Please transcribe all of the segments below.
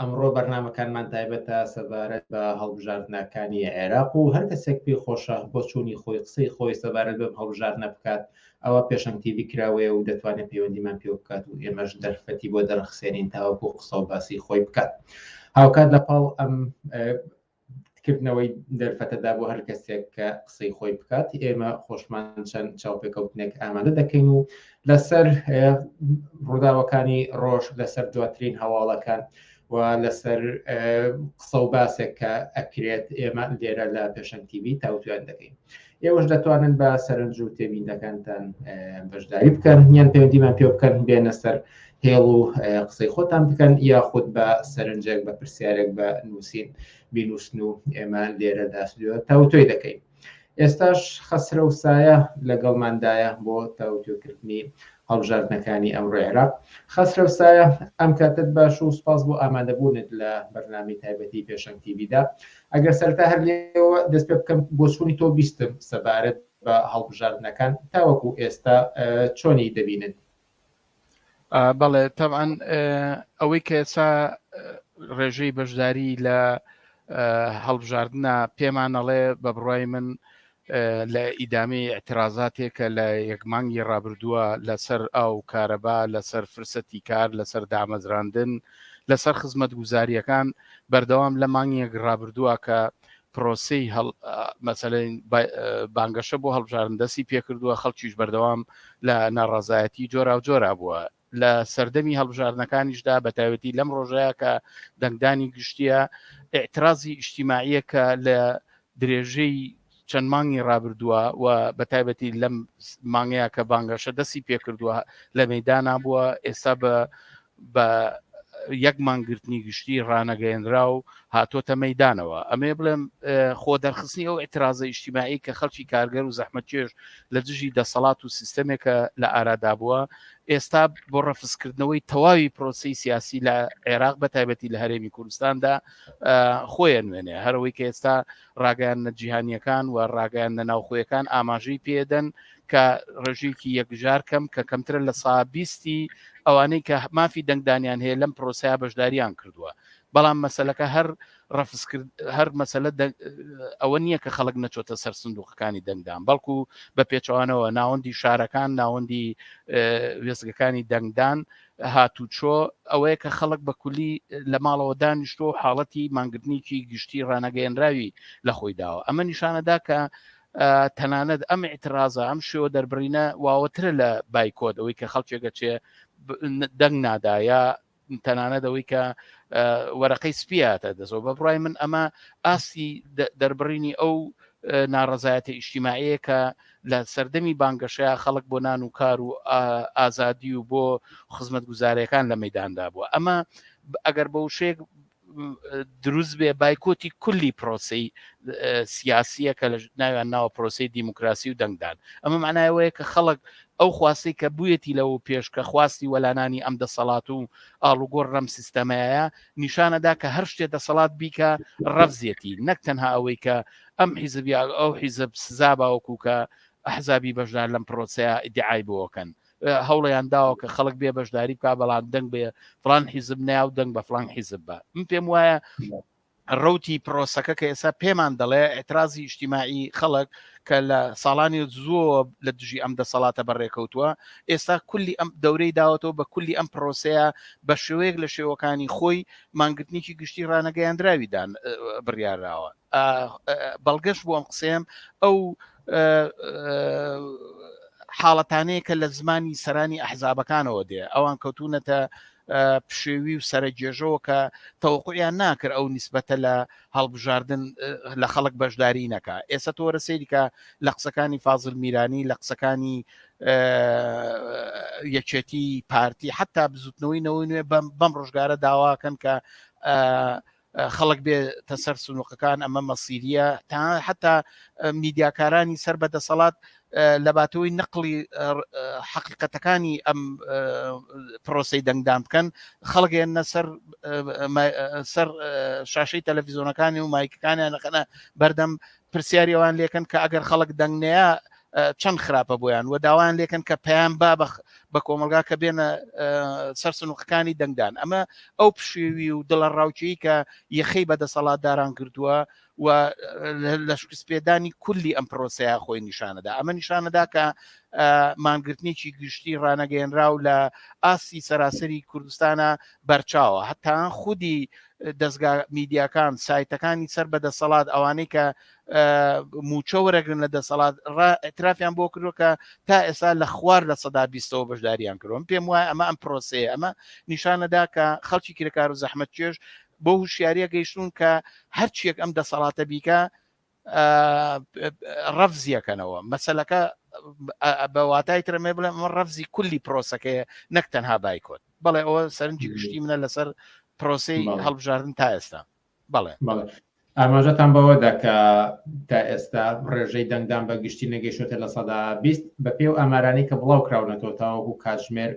ئەمڕۆ بەرنامەکانمان تایبەتە سەبارەت بە هەڵبژاردنەکانی عێراق و هەر کەسێک پێی خۆشە بۆ چوونی خۆی قسەی خۆی سەبارەت بەم هەڵبژاردنە بکات ئەوە پێشەنگ تیڤی کراوەیە و دەتوانێت پەیوەندیمان پێ بکات و ئێمەش دەرفەتی بۆ دەرەخسێنین تاوەکو قسە و باسی خۆی بکات هاوکات لەپاڵ ئەم کردنەوەی دەرفەتەدا بۆ هەر کەسێک کە قسەی خۆی بکات ئێمە خۆشمان چەند چاوپێکەوتنێک ئامادە دەکەین و لەسەر ڕووداوەکانی ڕۆژ لەسەر دواترین هەواڵەکان و لەسەر قسە و باسێک کە ئەکرێت ئێمە لێرە لە پێشەنتیوی تاوتوێن دەکەین. ئێوەش دەتوانن بە سەرنج و تێبینەکانتان بەشداری بکەن یان پەیوەندیمان پێ بکەن بێنە سەر هێڵ و قسەی خۆتان بکەن یاخود بە سەرنجێک بە پرسیارێک بە نووسین بینوسن و ئێمە لێرە داسیۆ تاوتۆی دەکەین ئێستاش خەسرە و سایە لەگەڵماندایە بۆ تاوتۆکردنی هەڵبژاردنەکانی ئەم ڕێرا خەسرە و سایە ئەم کاتت باش و سپاس بۆ ئامادەبوونت لە بەرنامی تایبەتی پێشەنگتیبیدا ئەگەر سەرەتا هەر لێەوە دەست پێ بکەم بۆچوونی تۆ بیستم سەبارەت بە هەڵبژاردنەکان تاوەکو ئێستا چۆنی دەبینن بەڵێ تەعاان ئەوەی کە ئێسا ڕێژەی بەشداری لە هەڵبژاردنە پێمانەڵێ بە بڕای من لە ئیدامەی ئیعترازاتێک کە لە یەک مانگی ڕابردووە لەسەر ئاو و کارەبا، لەسەر فرسەتی کار، لەسەر دامەزراندن، لەسەر خزمەتگوزارییەکان بەردەوام لە مانگێک ڕابردووە کە پرۆسەی مەسەلەن بانگەشە بۆ هەڵبژارن دەستی پێکردووە، خەڵکیش بەردەوام لە ناڕازایەتی جۆراوجۆرا بووە. لە سەردەمی هەڵبژاردنەکانیشدا بەتایبەتی لەم ڕۆژەیە کە دەنگدانی گشتیە ئاعترازی ئیشتیماعیە کە لە درێژەی چەند مانگی ڕابردووە و بە تایبەتی لەم مانگەیە کە بانگەشە دەستی پێکردووە لە مەدانا بووە ئێستا بە بە یەک مانگرتنی گشتی ڕانەگەێنرا و هاتۆتە مەدانەوە ئەمێ بڵێم خۆ دەرخستنی ئەو ئاعترازە ئیشتیمایی کە خەڵکی کارگەر و زەحمەتێش لە دژی دەسەڵات و سیستەمێکە لە ئارادا بووە ئێستا بۆ ڕەفزکردنەوەی تەواوی پرۆسی سیاسی لە عێراق بە تایبەتی لە هەرێمی کوردستاندا خۆیان نوێنێ هەرەوەی کە ئێستا ڕاگەیان نەجییهانیەکان و ڕاگەیان لە ناوخۆیەکان ئاماژەی پێدەن کە ڕێژەیەکی یەکجار کەم کە کەمترە لە سابیستی ئەوانەی کە مافی دەنگدانیان هەیە لەم پرۆسەیە بەشداریان کردووە بەڵام مەسلەکە هەر ڕەفزکرد، هەر مەسەلە ئەوە نییە کە خەڵک نەچۆتە سەر سندووقەکانی دەنگدان، بەڵکو بە پێچەوانەوە ناوەندی شارەکان، ناوەندی وێستگەکانی دەنگدان هاتوچۆ ئەوەیە کە خەڵک بە کولی لە ماڵەوە دانیشتۆ و حاڵەتی مانگرتنیکی گشتی ڕانەگەیەنراوی لە خۆی داوە ئەمە نیشانەدا کە تەنانەت ئەم ئیترازە ئەم شێوە دەربڕینە واوەترە لە بایکۆت ئەوەی کە خەڵکێکە چێ دەنگ نادایە تەنانەت ئەوەی کە وەرەقەی سپیاتە دەزەوە بە بڕای من ئەمە ئاستی دەربڕینی ئەو ناڕزایەتە ئیشتیماعەیە کە لە سەردەمی بانگەشەیە خەڵک بۆ نان و کار و ئازادی و بۆ خزمەت گوزارەکان لە مەداندا بووە ئەمە ئەگەر بە وشێک دروست بێ بایکۆتی کولی پرۆسەی سیاسیە کە لە ناویان ناوە پرۆسی دیموکراسی و دەنگدان ئەمە معنایەوەیە کە خەڵک ئەو خواستی کە بویەتی لەو پێش کە خواستی وەلانانی ئەم دەسەڵات و ئاڵوگۆڕ ڕەم سیستەمەیە نیشانەدا کە هەر شتێ دەسەڵات بیکە ڕەفزیەتی نەک تەنها ئەوەی کە ئەم حیزبیاگ ئەو حیزب سزا باوەکو کە ئەحزابی بەشدار لەم پرۆسەیە ئیدعای بۆکەن هەوڵیان داوە کە خەڵک بێ بەشداری بکە بەڵام دەنگ بێ فلان حیزب ناو دەنگ بە فلان حیزب بە من پێم وایە ڕوتی پرۆسەکە کە ئێستا پێمان دەڵێ ئەترازی شتیمایی خەڵک کە لە ساڵانی زۆ لە دژی ئەم دەسەڵاتە بەڕێکەوتووە ئێستا کولی ئەم دەورەی داوەتەوە بە کولی ئەم پرۆسەیە بە شێوەیەک لە شێوەکانی خۆی مانگرتنیی گشتی ڕانەگەیاندراویدان بڕیاراوە بەڵگەش بۆ ئەم قسەیەم ئەو حاڵەتانەیە کە لە زمانی سەرانی ئەحزابەکانەوە دێ ئەوان کەوتونەتە پشێوی و سەرەجێژەوە کە تەوقعیان ناکرد ئەو نسبەتە لە هەڵبژاردن لە خەڵک بەشداری نەکە ئێستا تۆرە سەیریکە لە قسەکانی فازل میرانی لە قسەکانی یەکێتی پارتی حتا بزوتنەوەی نەوەی نوێ بەم ڕۆژگارە داواکەن کە خەڵک بێتە سەر سنووقەکان ئەمە مەسیریە تا حتا میدیاکارانی سەر بە دەسەڵات لەباتەوەی نەقلی حقیقەتەکانی ئەم پرۆسی دەنگدان بکەن خەڵگەن نەسەر سەر شاشەی تەلەڤزیۆنەکانی و مایکەکانیان لەخەنە بەردەم پرسیاری ئەوان لێکەن کە ئەگەر خەڵک دەنگ نەیا چەند خراپە بۆیان و داوایان لێکەن کە پەیام با بە کۆمەلگا کە بێنە سەر سنوقەکانی دەنگدان ئەمە ئەو پشێوی و دڵە ڕاوچەی کە یەخەی بە دەسەڵاتداران کردووە و لە شکست پێدانی کولی ئەم پرۆسەیە خۆی نیشانەدا ئەمە نیشانەدا کە مانگرتنێکی گشتی ڕانەگەێنرا و لە ئاستی سەراسەری کوردستانە بەرچاوە هەتان خودی دەزگا میدیاکان سایتەکانی سەر بە دەسەڵات ئەوانەی کە موچە وەرەگرن لە دەسەڵات ئەترافیان بۆ کردو کە تا ئێستا لە خوار لە سەدا بیستەوە بەشداریان کرۆم پێم وایە ئەمە ئەم پرۆسەیە ئەمە نیشانەدا کە خەڵکی کرێکار و زەحمەت چێش بۆ هوشیاریە گەیشتون کە هەرچیەک ئەم دەسەڵاتە بیکە ڕەفزیەکەنەوە مەسەلەکە بە واتای ترەمێ بڵێ ئەمە ڕەفزی کولی پرۆسەکەی نەک تەنها بایکۆت بەڵێ ئەوە سەرنجی گشتی منە لەسەر پرۆسی هەڵبژاردن تا ئێستا بەڵێ ئاماژەتان بەوە دەکە تا ئێستا ڕێژەی دەنگدان بە گشتی نەگەشتە لە سەدا بیست بە پێ و ئامارانی کە بڵاو کراونەتەوە تاوەکو کاتژمێر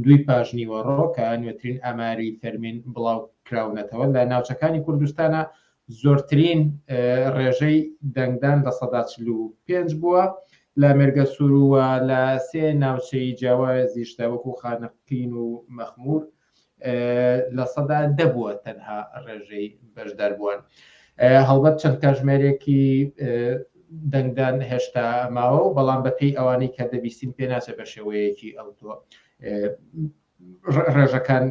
دوی پاشنیوە ڕۆکە نوێترین ئاماری فەرمین بڵاو کراونەتەوە لە ناوچەکانی کوردستانە زۆرترین ڕێژەی دەنگدان لە سەدا چل و پێنج بووە لە مێرگە سوور و لە سێ ناوچەی جیاوازیشدا وەکو خانەقین و مەخمور لە سەدا دەبووە تەنها ڕێژەی بەشداربووان هەڵبەت چەند کاژمێرێکی دەنگدان هێشتا ماوە و بەڵام بەپی ئەوانەی کە دەبیستین پێناچە بە شێوەیەکی ئەوتۆ ڕێژەکان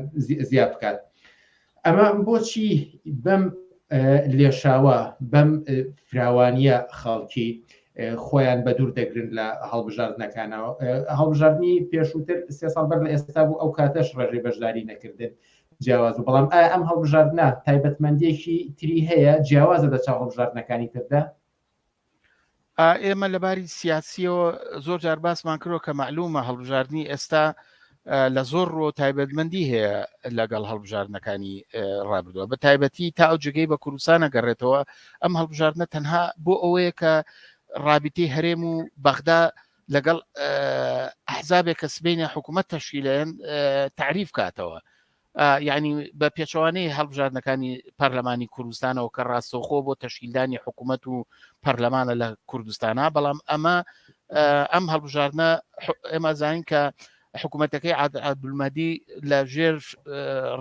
زیاد بکات ئەمە بۆچی بەم لێشاوە بەم فراوانیە خەڵکی خۆیان بە دوور دەگرن لە هەڵبژاردنەکانەوە هەڵبژاردننی پێشووتر سێ ساڵ بەر لە ئێستا بوو ئەو کاتەش ڕێژەی بەشداری نەکردن جیاواز و بەڵام ئایا ئەم هەڵبژاردنە تایبەتمەندێکی تری هەیە جیاوازە لە چاو هەڵبژاردنەکانی تردا ئێمە لە باری سیاسیەوە زۆر جار باسمان کرۆ کە معلومە هەڵبژاردننی ئێستا لە زۆر ڕۆ تایبەتمەندی هەیە لەگەڵ هەڵبژاردنەکانی ڕابردووە بە تایبەتی تا ئەو جگەی بە کوردستانە گەڕێتەوە ئەم هەڵبژاردنە تەنها بۆ ئەوەیە کە ڕابیتی هەرێم و بەغدا لەگەڵ ئەحزابێک کە سبینە حکوومەت تەشیلەن تعریف کاتەوە یانی بە پێچەوانەی هەڵبژاردنەکانی پەرلەمانی کوردستانەوە کە ڕاستەوخۆ بۆ تەشکیلدانی حکوومەت و پەرلەمانە لە کوردستانە بەڵام ئەمە ئەم هەڵبژاردنە ئێمە زانین کە حکوومەتەکەی عادولمەدی لە ژێر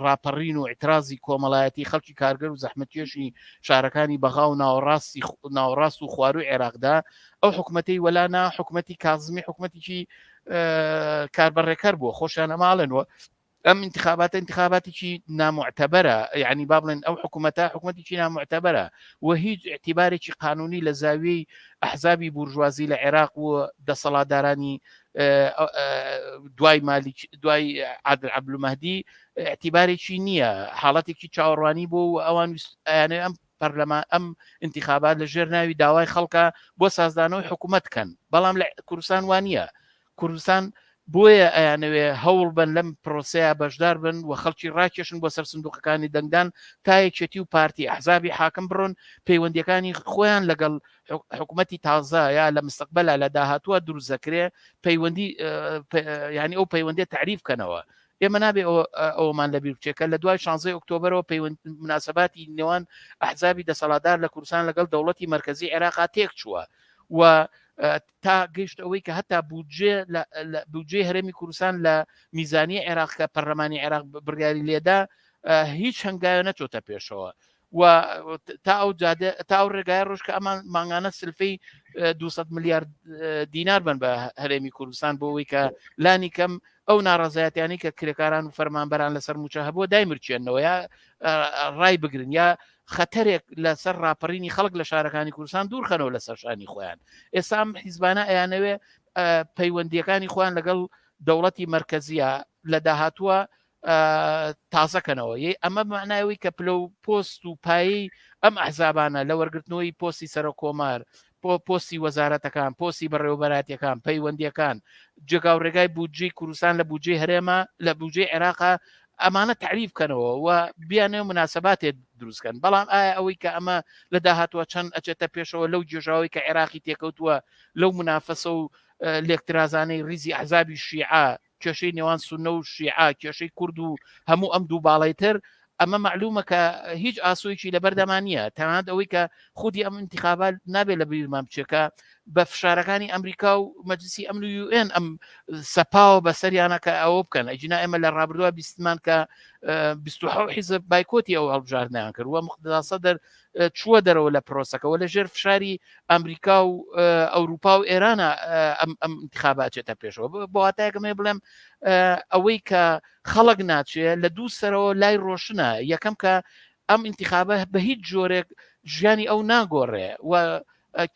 ڕاپەڕین و ئیترازی کۆمەڵایەتی خەڵکی کارگەر و زەحمەتێشی شارەکانی بەغا و ناوەڕاستی ناوەڕاست و خواروی عێراقدا ئەو حکوومەتەی وەلانا حکوومەتی کازمی حکوومەتیی کاربەڕێکەر بووە خۆشیان ئەماڵێنەوە ئەم انتخاباتە انتخاباتێکی نامعتەبەرە یعنی با بڵێن ئەو حکوومەتە حکوومەتێکی نامعتەبەرە و هیچ اعتیبارێکی قانونی لە زاویەی ئەحزابی بورژوازی لە عێراق و دەسەڵاتدارانی دوای مالیک دوای عادل عبلومەدی اعتیبارێکی نییە حاڵەتێکی چاوەڕوانی بۆ و ئەوان ئەیانێ ئەم پەرلەمان ئەم انتخابات لە ژێر ناوی داوای خەڵکە بۆ سازدانەوەی حکوومەت کەن بەڵام لە کوردستان وانە کوردستان بۆیە ئەیانەوێ هەوڵ بەن لەم پرۆسەیە بەشدار بن و خەڵکی ڕاکێشن بۆ سەر سندوقەکانی دەنگدان تا یەکێتی و پارتی ئەحزابی حاکم بڕۆن پەیوەندیەکانی خۆیان لەگەڵ حکوومەتی تازە یا لە مستقبلا لە داهاتووە دروزەکرێ پەیوەندی ینی ئەو پەیوەندی تعریف بکەنەوە ئێمە نابێ ئەومان لە بیرچێکە لە دوای 16 ئۆکتۆبرەوە پەیوەند مناسباتی نێوان ئەحزابی دەسەڵاتدار لە کوردستان لەگەڵ دەوڵەتی مرکزی عێراقا تێک چووە و تا گەیشتە ئەوەی کە هەتا بودجێ بودجێ هەرێمی کوردستان لە میزانیە عێراق کە پەرلەمانی عێراق بڕیاری لێدا هیچ هەنگاوە نەچۆتە پێشەوە و تا ئەو جادە تا ئەو ڕێگای ڕۆژ کە ئەمان مانگانە سلفی 200 میلیارد دینار بن بە هەرێمی کوردستان بۆ ئەوی کە لانی کەم ئەو ناڕازایەتیانی کە کرێکاران و فەرمانبەران لەسەر موچە هەبووە دایمرچێنەوە یا ڕای بگرن یا خەتەرێک لە سەر ڕاپەڕینی خەڵک لە شارەکانی کوردستان دوورخەنەوە لە سەرشانی خۆیان ئێسام حیزبانە ئەیانەوێ پەیوەندیەکانی خۆیان لەگەڵ دەوڵەتی مرکزیە لە داهاتووە تازەکەنەوە یەی ئەمە معناوی کە پلە و پۆست و پایی ئەم ئەحزابانە لە وەرگرتنەوەی پۆستی سەرۆک کۆمار بۆ پۆستی وەزارەتەکان، پۆستی بەڕێوەبەرایەتیەکان، پەیوەندیەکان، جێگاو ڕێگای بودجەی کوردستان لە بودجەی هەرێمە لە بودجەی عێراقە، ئەمانە تەعریف بکەنەوە و بیانێ مناسەباتێ دروست کەن، بەڵام ئایا ئەوەی کە ئەمە لە داهاتوە چەند ئەچێتە پێشەوە لەو گێژاوەی کە عێراقی تێکەوتوە لەو منافەسەو لێکترازانەی ڕیزی ئەحزابی شیعە کێشەی نێوان سونە و شیعە، کێشەی کورد و هەموو ئەم دوو باڵەی تر، ئەمە مەعلوومە کە هیچ ئاسۆیەکی لەبەردامان نییە، تەنانەت ئەوەی کە خودی ئەم ئینتیخابە نابێت لە بیرمان بچێت کە بە فشارەکانی ئەمریکا و مەجلسی ئەمن و یو ئێن ئەم سەپاوە بەسەریانە کە ئەوە بکەن، ئەگینا ئێمە لە ڕابردووە بیستمان کە بیست و حەوت حیزب بایکۆتی ئەو هەڵبژاردنەیان کرد و موقتەدا سەدر چووە دەرەوە لە پرۆسەکەەوە لە ژێر فشاری ئەمریکا و ئەوروپا و ئێرانە ئەم ئەم انتخاباچێتە پێشەوە بۆاتایگەمێ بڵێم ئەوەی کە خەڵک ناچێ لە دوو سەرەوە لای ڕۆشنە یەکەم کە ئەم انتخابە بە هیچ جۆرێک ژیانی ئەو ناگۆڕێ و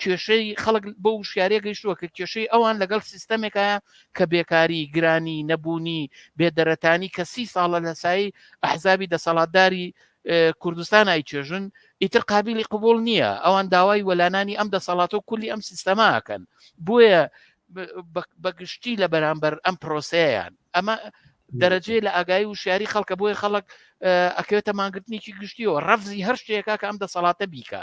کێشەی خەڵک بۆ وشیارە گەیشتووە کە کێشەی ئەوان لەگەڵ سیستەمێکە کە بێکاری گرانی نەبوونی بێدەرەتانی کە سی ساڵە لە سایی ئەحزابی دەسەڵاتداری کوردستان ئایچێژن ئیتر قابلی قوبول نییە ئەوان داوای وەلانانی ئەم دەسەڵات و کولی ئەم سیستەماکەن بۆیە بەگشتی لە بەرامبەر ئەم پرۆسەیان ئەمە دەرەجێ لە ئاگایی و شاری خەڵکە بۆی خەڵک ئەکەوێتە ماگرتنیی گشتیەوە ڕەفزی هەر شتێکە کە ئەم دەسەڵاتە بیکە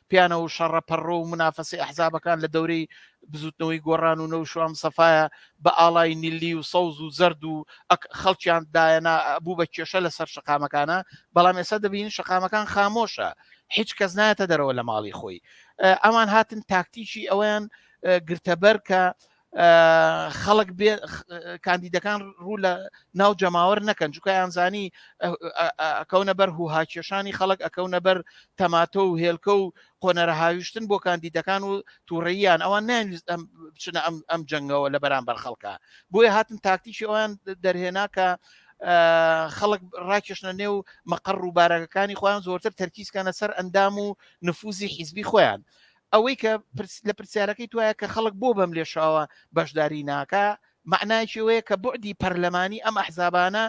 پیانە و شەڕە پەڕۆ و منافەسی ئەحزابەکان لە دەورەی بزوتنەوەی گۆڕان و نەو شوام سەفاە بە ئاڵای نیلی و سەوز و زرد و خەڵکیان دایەنا بوو بە کێشە لەسەر شقامەکانە بەڵام ئێستا دەبین شقامەکان خامۆشە هیچ کەس نایەتە دەرەوە لە ماڵی خۆی ئەمان هاتن تاکتیکی ئەویان گرتەبەر کە خەڵک بێ کاندیدەکان ڕوو لە ناو جەماوەر نەکەن جوکایان زانی ئەکەونە بەر هو هاکێشانی خەڵک ئەکەونە بەر تەماتۆ و هێلکە و قۆنەرە هاویشتن بۆ کاندیدەکان و تووڕێیان ئەوان نان بچنە ئەم ئەم جەنگەوە لە بەرامبەر خەڵکە بۆیە هاتن تاکتیکی ئەویان دەرهێنا کە خەڵک ڕاکێشنە نێو مەقڕ و بارەکەەکانی خۆیان زۆرتر تەرکیزکانە سەر ئەندام و نفوزی حیزبی خۆیان ئەوەی کە لە پرسیارەکەی توایە کە خەڵک بۆ بەم لێشاوە بەشداری ناکە معناچەوەیە کە بعدی پەرلەمانی ئەم ئەحزابانە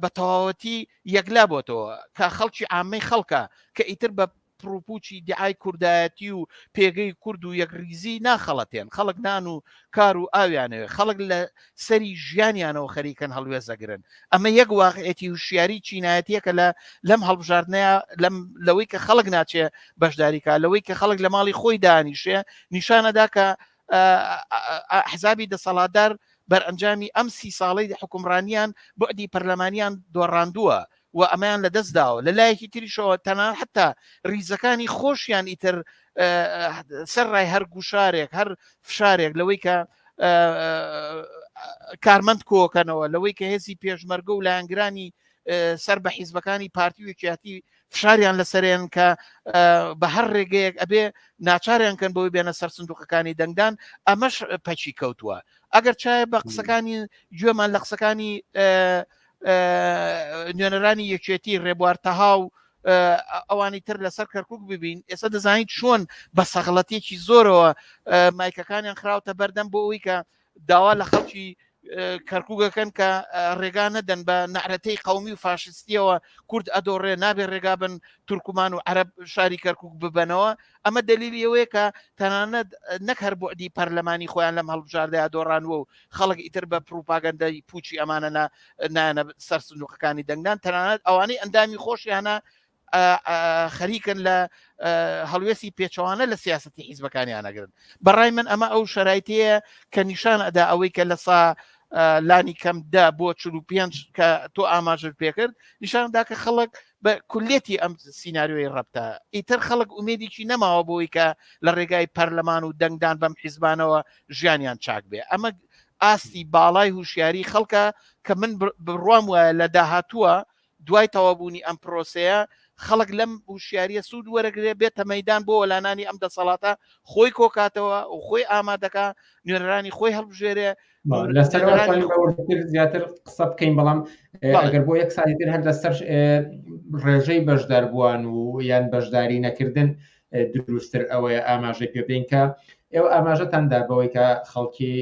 بە تەواوەتی یەکلا بۆتەوە کە خەڵکی ئامەی خەڵکە کە ئیتر بە پرۆپوچی دیعای کوردایەتی و پێگەی کورد و یەکریزی ناخەڵەتێن خەڵک نان و کار و ئاویانەوێت خەڵک لە سەری ژیانیانەوە خەریکن هەڵوێزەگرن ئەمە یەک واقعێتی وشیاری چینایەتیەکە لە لەم هەڵبژاردنەیە لەم لەوەی کە خەڵک ناچێ بەشداریکە لەوەی کە خەڵک لە ماڵی خۆی دانیشێ نیشانەدا کە حزابی دەسەڵاتدار بەرئەنجامی ئەم سی ساڵی حکومڕانیان بەدی پەرلەمانیان دۆڕاندووە و ئەمەیان لە دەست داوە لە لایەکی تریشەوە تەنان حتا ریزەکانی خۆشیان ئیتر سەر ڕای هەر گوشارێک هەر فشارێک لەوەی کە کارمەند کۆکەنەوە لەوەی کە هێزی پێشمەرگە و لایەنگرانی سەر بە حیزبەکانی پارتی و یەکیاتی فشاریان لەسەرێن کە بە هەر ڕێگەیەک ئەبێ ناچاریان کەن بۆی بێنە سەر سندوقەکانی دەنگدان ئەمەش پەچی کەوتووە ئەگەر چایە بە قسەکانی گوێمان لە قسەکانی نوێنەرانی یەکێتی ڕێبوار تەها و ئەوانی تر لەسەر کەرکک ببین ئێستا دەزانین چۆن بە سەغڵەتێکی زۆرەوە مایکەکانیان خراوتە بەردەم بۆ ئەوی کە داوا لە خەڵکی کەرکوگەکەن کە ڕێگا نەدەن بە نەعرەتەی قومی و فاشستیەوە کورد ئەدۆڕێ نابێ ڕێگا بن تورکمان و عرب شاری کەرکک ببنەوە ئەمە دەلیلی ئەوەیە کە تەنانەت نەک هەر بوعدی پەرلەمانی خۆیان لەم هەڵبژاردەیە دۆڕانوە و خەڵک ئیتر بە پروپاگەندەی پوچی ئەمانە نایەنە سەر سندوقەکانی دەنگدان تەنانەت ئەوانەی ئەندامی خۆشیانە خەریکن لە هەڵوێستی پێچەوانە لە سیاستی حیزبەکانیانەگرن بەڕای من ئەمە ئەو شەرایتەیە کە نیشان ئەدا ئەوەی کە لە سا لانی کەم دە بۆ چ پێنج کە تۆ ئاماژت پێکرد نیشاندا کە خەڵک بە کولیەتی ئەم سینناریۆی ڕەبتە ئیتر خەڵک ئومێدیی نەماوە بۆی کە لە ڕێگای پەرلەمان و دەنگدان بەم حیزبانەوە ژیانیان چاک بێ ئەمە ئاستی باڵای هوشیاری خەڵکە کە من بڕوام وایە لە داهاتووە دوای تەوابوونی ئەم پرۆسەیە خەڵک لەم هوشیاریە سوود وەرەگرێ بێتە مەدان بۆ وەلانانی ئەم دەسەڵاتە خۆی کۆکاتەوە و خۆی ئامادەکە نوێنەرانی خۆی هەڵبژێرێ زیاتر قسە بکەین بەڵام ئەگەر بۆ یەک ساڵی تر هەر لەسەر ڕێژەی بەشداربووان و یان بەشداری نەکردن دروستتر ئەوەیە ئاماژە پێ بین کە ئێوە ئاماژەتاندا بەوەی کە خەڵکی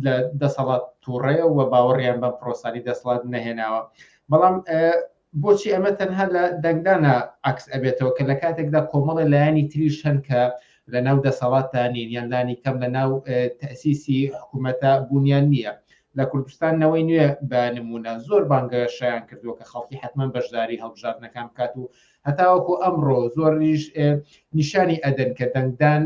لە دەسەڵات تووڕەیە و باوەڕیان بە پرۆسانی دەسڵات نەهێناوە بەڵام بۆچی ئەمە تەنها لە دەنگدانا عەکس ئەبێتەوە کە لە کاتێکدا کۆمەڵێ لایەنی تریش هەن کە لە ناو دەسەڵاتدا نین یان لانی کەم لە ناو تەسیسی حکوومەتە بوونیان نییە لە کوردستان نەوەی نوێ بە نمونە زۆر بانگەشیان کردووە کە خەڵکی حتمما بەشداری هەڵبژاردنەکان بکات و هەتاوەکو ئەمڕۆ زۆریش نیشانی ئەدەن کە دەنگدان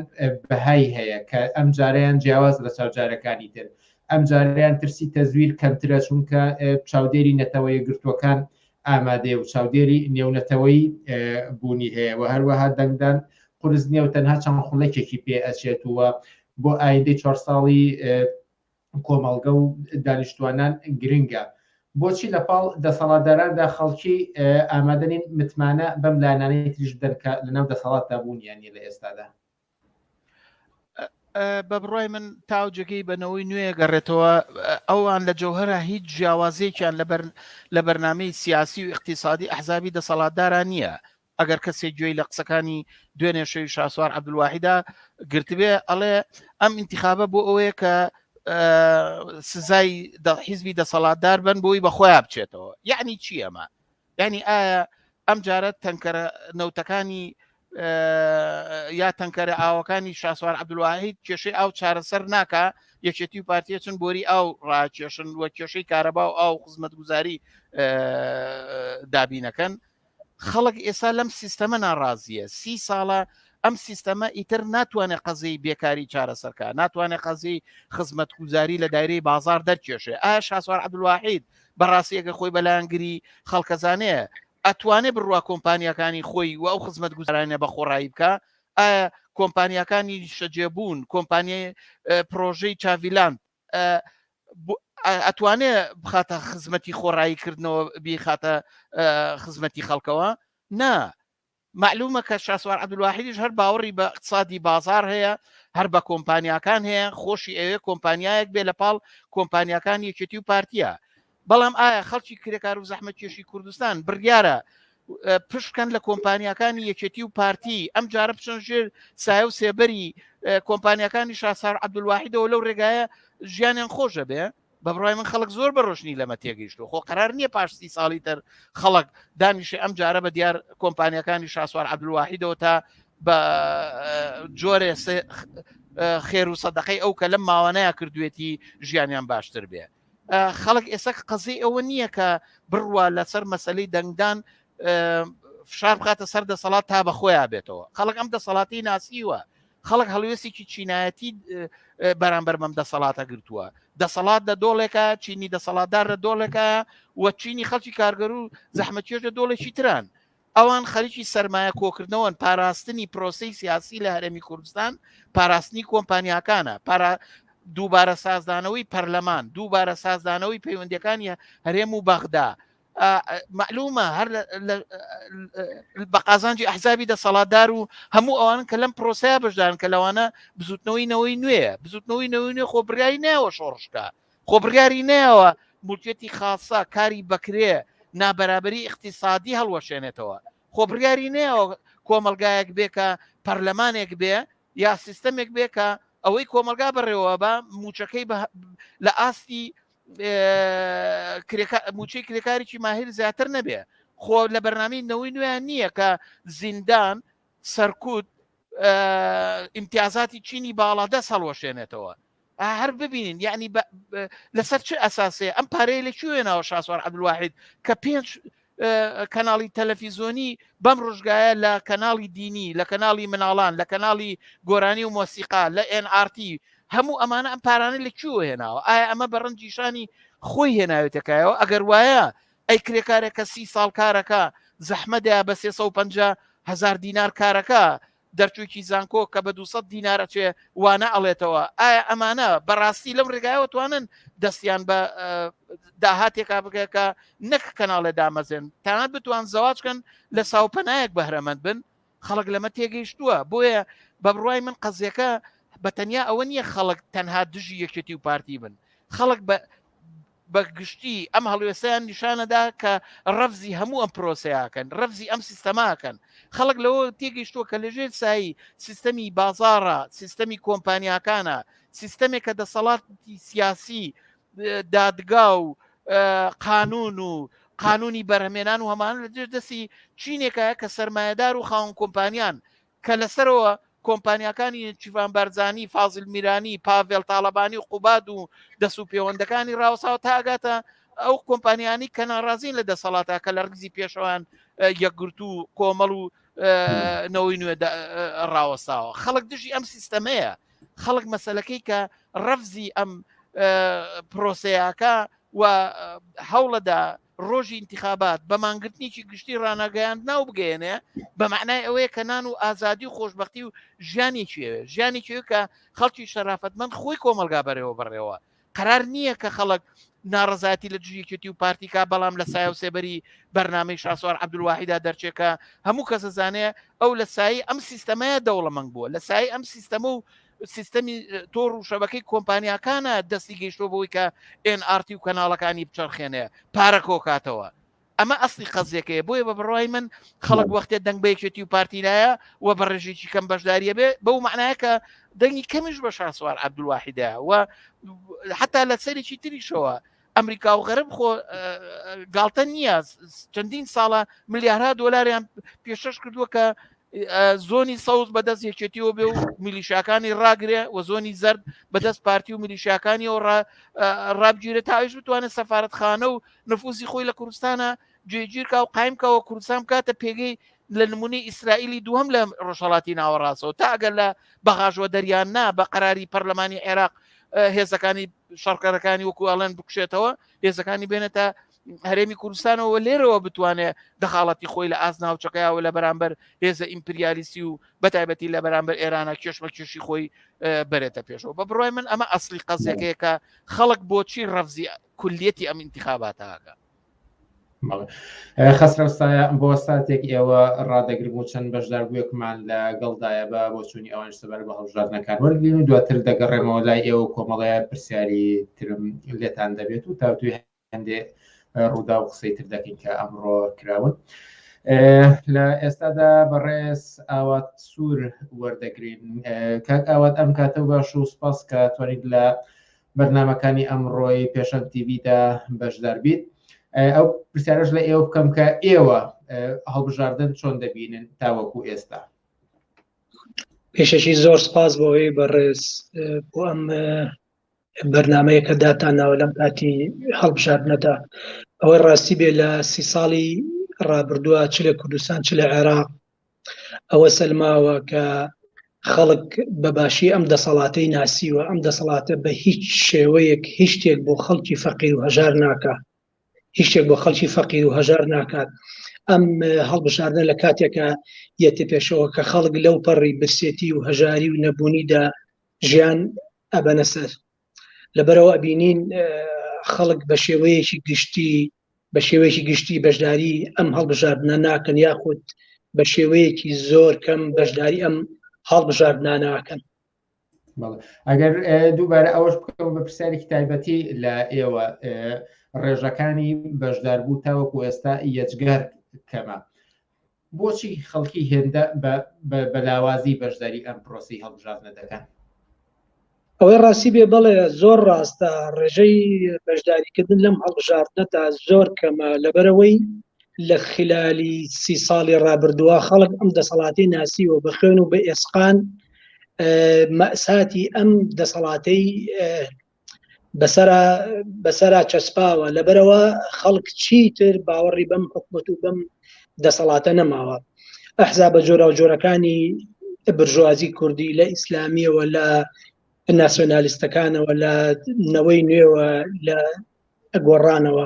بەهای هەیە کە ئەم جاریان جیاواز لە چاوجارەکانی تر ئەمجارەیان ترسی تەزویر کەمترە چونکە چاودێری نەتەوە یەکگرتووەکان ئامادەیە و چاودێری نێونەتەوەی بوونی هەیە و هەروەها دەنگدان قرس نیە و تەنها چەند خولەکێکی پێ ئەچێت وە بۆ ئایندەی چوار ساڵی کۆمەڵگە و دانیشتوانان گرنگە بۆچی لە پاڵ دەسەڵاتداراندا خەڵکی ئامادەنین متمانە بەم لانانەی تریش بدەن کە لەناو دەسەڵاتدا بوونیانی لە ئێستادا بە بڕای من تاوجگەی بە نەوەی نوێ گەڕێتەوە ئەوان لە جەوهرە هیچ جیاوازێکیان لە بەرنمەی سیاسی و اقتصادی ئەحزابی دەسەڵاتداران نییە ئەگەر کەسێ گوێی لە قسەکانی دوێنێ شەوی شاسوار عبدواحیدا گرتبێ ئەڵێ ئەم انتخابە بۆ ئەوەیە کە سزای حیزبی دەسەڵاتدار بن بۆی بەخۆیان بچێتەوە یعنی چی ئەمە یعنی ئایا ئەم جارە تەنکەرە نەوتەکانی یا تەنکەرە ئاوەکانی شاسوار عبدواهید کێشەی ئاو چارەسەر ناکە یەکێتی و پارتیە چون بۆری ئاو ڕاکێشن وە کێشەی کارەبا و ئاو خزمەت گوزاری دابینەکەن خەڵک ئێستا لەم سیستەمە ناڕازیە سی ساڵە ئەم سیستەمە ئیتر ناتوانێت قەزەی بێکاری چارەسەرکە ناتوانێت قەزی خزمەت گوزاری لە دایرەی بازار دەرکێشێ ئایا شاسوار عبدواحید بەڕاستی ئەگەر خۆی بەلایەنگری خەڵکەزانەیە ئەتوانێ بڕوا کۆمپانیەکانی خۆی و ئەو خزمەت گوزارانە بە خۆڕایی بکە ئایا کۆمپانیەکانی شەجێبوون کۆمپانیای پرۆژەی چاڤیلاند ئەتوانێ بخاتە خزمەتی خۆڕایی کردنەوە بیخاتە خزمەتی خەڵکەوە نا مەعلومە کە شاسوار عەبدولواحیدیش هەر باوەڕی بە ئیقتسادی بازاڕ هەیە، هەر بە کۆمپانیاکان هەیە، خۆشی ئەوێ کۆمپانیایەک بێ لە پاڵ کۆمپانیاکانی یەکێتی و پارتییە. بەڵام ئایا خەڵکی کرێکار و زەحمەتکێشی کوردستان بڕیارە پشت بکەن لە کۆمپانیاکانی یەکێتی و پارتی، ئەمجارە بچن ژێر سایە و سێبەری کۆمپانیاکانی شاسوار عەبدولواحیدەوە لەو رێگایە ژیانیان خۆش دەبێ؟ بە بڕای من خەڵک زۆر بە ڕۆشنی لەمە تێگەیشتو خۆ قرار نییە پاش سی ساڵی تر خەڵک دانیشێ ئەم جارە بە دیار کۆمپانیەکانی شاسوار عبدواحیدەوە تا بە جۆرێ خێر و سەدەقەی ئەو کە لەم ماوانەیە کردوێتی ژیانیان باشتر بێ خەڵک ئێستا قەزی ئەوە نییە کە بڕوا لەسەر مەسلەی دەنگدان فشار بخاتە سەر دەسەڵات تا بە خۆیان بێتەوە خەڵک ئەم دەسەڵاتی ناسیوە خەڵک هەڵوێستێکی چینایەتی بەرامبەر بەم دەسەڵاتە گرتووە دەسەڵات لە دۆڵێکە چینی دەسەڵاتدار لە دۆڵێکە و چینی خەڵکی کارگەر و زەحمەتێش لە دۆڵێکی تران ئەوان خەریکی سرمایە کۆکردنەوەن پاراستنی پرۆسی سیاسی لە هەرێمی کوردستان پاراستنی کۆمپانیاکانە پارا دووبارە سازدانەوەی پەرلەمان دووبارە سازدانەوەی پەیوەندەکانی هەرێم و بەغدا معلومە هەر بە قازانجی ئەحزابی دەسەڵاتدار و هەموو ئەوان کە لەم پرۆسەیە بەشدان کە لەوانە بزوتنەوەی نەوەی نوێە بزوتنەوەی نەوەی نوێ خۆ بریایی ناوە شۆڕشکە خۆ بڕیاری ناوە مولکێتی خاصە کاری بەکرێ نابەرابری اقتصادی هەڵوەشێنێتەوە خۆ بڕیاری ناوە کۆمەلگایەک بێکە پەرلەمانێک بێ یا سیستەمێک بێکە ئەوەی کۆمەلگا بەڕێوە بە موچەکەی لە ئاستی موچەی کرێکارێکی ماهر زیاتر نەبێ خۆ لە بەرنامی نەوەی نوێیان نییە کە زیندان سەرکوت ئیمتیازاتی چینی باڵا دەست هەڵوەشێنێتەوە هەر ببینین یعنی لەسەر چ ئەساسێ ئەم پارەیە لە کوێناوە شاسوار عبدواحید کە پێنج کەناڵی تەلەفیزۆنی بەم ڕژگایە لە کەناڵی دینی لە کەناڵی مناڵان لە کەناڵی گۆرانی و مۆسیقا لە NRT هەموو ئەمانە ئەم پارانە لە کوێوە هێناوە ئایا ئەمە بە ڕەنجیشانی خۆی هێناوێتەکایەوە ئەگەر وایە ئەی کرێکارێکە سی ساڵ کارەکە زەحمەدەیا بە 350 هزار دینار کارەکە دەرچوویکی زانکۆ کە بە دووسەد دینارە چێ وانە ئەڵێتەوە ئایا ئەمانە بەڕاستی لەم ڕێگایەوە توانن دەستیان بە داهاتێکا بگەکە نەک کەناڵێ دامەزێن تاان بتوان زەواجکەن لە ساوپەنایەک بەهرەمەند بن خەڵک لەمە تێگەیشتووە بۆیە بە بڕای من قەزیەکە بە تەنیا ئەوە نییە خەڵک تەنها دژی یەکێتی و پارتی بن خەڵک بە بە گشتی ئەم هەڵوێستیان نیشانەدا کە ڕەفزی هەموو ئەم پرۆسەیەکەن ڕەفزی ئەم سیستەماکەن خەڵک لەوە تێگەیشتووە کە لەژێر سایی سیستەمی بازارە سیستەمی کۆمپانیاکانە سیستەمێک کە دەسەڵاتی سیاسی دادگا و قانون و قانونی بەرهمێنان و هەمان لە دەستی چینێکە کە سرمایهدار و خاون کۆمپانیان کە لە سەرەوە کۆمپانیاکانی نێچیرڤان بارزانی، فازیل میرانی، پاڤێڵ تاڵەبانی و قوباد و دەست و پێوەندەکانی ڕاوەساوە تا ئەگاتە ئەو کۆمپانیانی کە ناڕازین لە دەسەڵاتە کە لە ڕیزی پێشەوان یەکگرت و کۆمەڵ و نەوەی نوێ ڕاوەساوە خەڵک دژی ئەم سیستەمەیە خەڵک مەسلەکەی کە ڕەفزی ئەم پرۆسەیەکە و هەوڵەدا ڕۆژی انتخابات بە مانگرتنیی گشتی ڕناگەیاند ناو بگەێنێ بە معنای ئەوەیە کە نان و ئازادی و خۆشببختی و ژیانی چێوێ ژیانی چێو کە خەڵکی شەرافەتمەند خۆی کۆمەلگا بەرەوە بڕێەوە قرار نییە کە خەڵک ناڕزاتی لە دژیکێتی و پارتیکا بەڵام لە سای و سێبەری بەرنامەی شاسوار عبدواحیدا دەرچێکە هەموو کەسە زانێ ئەو لە سایی ئەم سیستەمەیە دەوڵەمەنگ بووە لە سای ئەم سیستەمە و سیستەمی تۆڕ و شەبەکەی کۆمپانیاکانە دەستی گەیشتۆ بەوەی کە NRT و کەناڵەکانی بچەرخێنێ پارە کۆکاتەوە ئەمە ئەستی قەزیەکەیە بۆیە بە بڕای من خەڵک وەختێ دەنگ بە یەکێتی و پارتیلایە و بە ڕێژێکی کەم بەشداریە بێ بەو معناە کە دەنگی کەمیش بە شاسوار عبدواحیدا و حتا لە سەرێکی تریشەوە ئەمریکا و غەرب خۆ گاڵتە نییە چەندین ساڵە ملیارها دۆلاریان پێشش کردووە کە زۆنی سەوز بەدەست یەکێتیەوە بێ و میلیشاکانی ڕاگرێ و زۆنی زرد بەدەست پارتی و میلیشاکانی و ڕابگیرە تاویش بتوانێت سەفاەتخانە و نفوزی خۆی لە کوردستانە جێگیرکە و قایمکەوە کوردستان کاتە پێگەی لە نمونی ئیسرائیلی دووەم لە ڕۆژهڵاتی ناوەڕاستەوە تا ئەگەر لە بەغاژوە دەریان نا بە قەراری پەرلەمانی عێراق هێزەکانی شەڕکەرەکانی وەکو ئەڵێن بکشێتەوە هێزەکانی بێنێتە هەرێمی کوردستانەوە لێرەوە بتوانێت دەخاڵەتی خۆی لە ئاز ناوچەکەیەوە لە بەرامبەر هێزە ئیمپریالیسی و بەتایبەتی لە بەرامبەر ئێرانە کێشمە کێشی خۆی بەرێتە پێشەوە بە بڕای من ئەمە ئەسلی قەزیەکەیەکە خەڵک بۆچی ڕەفزی کولیەتی ئەم انتخاباتەکە خەسرەو سایە بۆ ساتێک ئێوە ڕادەگرم و چەند بەشداربووێکمان لە گەڵدایە بە بۆچوونی ئەوان سەبار بە هەڵبژاردنەکان وەرگین و دواتر دەگەڕێمەوە لای ئێوە کۆمەڵەیە پرسیاری ترم لێتان دەبێت و تاوتوی هەندێ ڕوودا و قسەی تر دەکەین کە ئەمڕۆ کراون. لە ئێستادا بەڕێز ئاوات سوور وەردەگرین کاک ئاوات ئەم کاتە باش و سپاس کە توانیت لە بەرنامەکانی ئەمڕۆی پێشەند تیڤدا بەشدار بیت ئەو پرسیارش لە ئێوە بکەم کە ئێوە هەڵبژاردن چۆن دەبینن تاوەکو ئێستا پێشەشی زۆر سپاس بۆەوەی بەڕێز بۆ ئەم بەرنمەیە کە داتانناوە لەم کاتی هەڵبژاردنەدا ئەوەی ڕاستی بێ لە سی ساڵی ڕابردووە چ لە کوردستان چ لە عێراق ئەوە سەلماوە کە خەڵک بە باشی ئەم دەسەڵاتەی ناسیوە ئەم دەسەڵاتە بە هیچ شێوەیەک هیچ شتێک بۆ خەڵکی فەقیر و هەژار ناکە هیچ شتێک بۆ خەڵکی فەقیر و هەژار ناکات ئەم هەڵبژاردە لە کاتێکە یەتە پێشەوە کە خەڵک لەو پەڕی برسێتی و هەژاری و نەبوونیدا ژیان ئەبەنە سەر لەبەرەوە ئەبینین خەڵک بە شێوەیەکی گشتی بە شێوەیەکی گشتی بەشداری ئەم هەڵبژاردنە ناکەن یاخود بە شێوەیەکی زۆر کەم بەشداری ئەم هەڵبژاردناناکەن ئەگەر دووبارە ئەوەش بکەم بە پرسیارێکی تایبەتی لە ئێوە ڕێژەکانی بەشداربوو تاوەکو ئێستا یەجگەر کەمە بۆچی خەڵکی هێندە بە لاوازی بەشداری ئەم پرۆسەی هەڵبژاردنە دەکەن؟ ئەوەی ڕاستی بێ بەڵێ زۆر ڕاستە ڕێژەی بەشداریکردن لەم هەڵبژاردنە تا زۆر کەمە لەبەرەوەی لە خلالی سی ساڵی ڕابردووە خەڵک ئەم دەسەڵاتی ناسیوە بە خوێن و بە ئێسقان مەساتی ئەم دەسەڵاتەی بەسرا بەسرا چەسپاوە لەبەرەوە خەڵک چیتر باوەڕی بەم حکومەت و بەم دەسەڵاتە نەماوە ئەحزا بە جۆرا و جۆرەکانی برژوازی کوردی لە ئیسلامیەوە لە ناسیۆنالیستەکانەوە لە نەوەی نوێوە لە گۆڕانەوە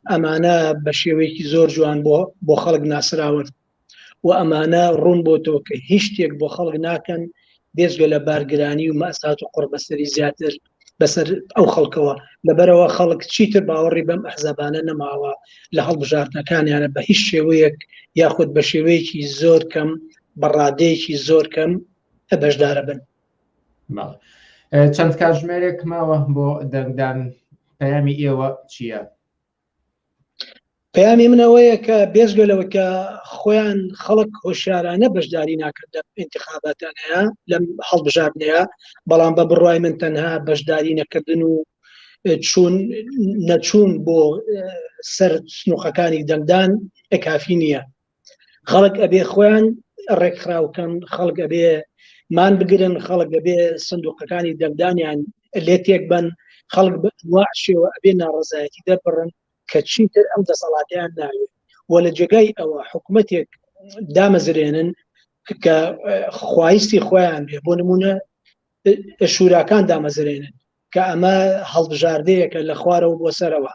ئەمانە بە شێوەیەکی زۆر جوان بۆ بۆ خەڵک ناسراون و ئەمانە ڕوون بۆ تۆ کە هیچ شتێک بۆ خەڵک ناکەن بێزگە لە بارگرانی و مەسات و قڕبەسەری زیاتر بەسەر ئەو خەڵکەوە لەبەرەوە خەڵک چیتر باوەڕی بەم ئەحزابانە نەماوە لە هەڵبژاردنەکانیانە بە هیچ شێوەیەک یاخود بە شێوەیەکی زۆر کەم بەڕادەیەکی زۆر کەم بەشدارە بن چەند کاتژمێرێک ماوە بۆ دەنگدان پەیامی ئێوە چییە؟ پەیامی من ئەوەیە کە بێژگە لەوە کە خۆیان خەڵک هۆشارانە بەشداری ناکرد لە انتخاباتانەیە لەم هەڵبژاردنەیە بەڵام بە بڕای من تەنها بەشداری نەکردن و چون نەچوون بۆ سەر سنوقەکانی دەنگدان ئەکافی نییە خەڵک ئەبێ خۆیان ڕێکخراوکەن خەڵک ئەبێ مان بگرن خەڵک ئەبێ سندوقەکانی دەنگدانیان لێ تێک بن خەڵک شێوە ئەبێ ناڕزایەتی دەربڕن کە چیتر ئەم دەسەڵاتیان ناوێت و لە جێگای ئەوە حکوومەتێک دامەزرێنن کە خوایستی خۆیان بێ بۆ نمونە شوراکان دامەزرێنن کە ئەمە هەڵبژاردەیەکە لە خوارەوە بۆ سەرەوە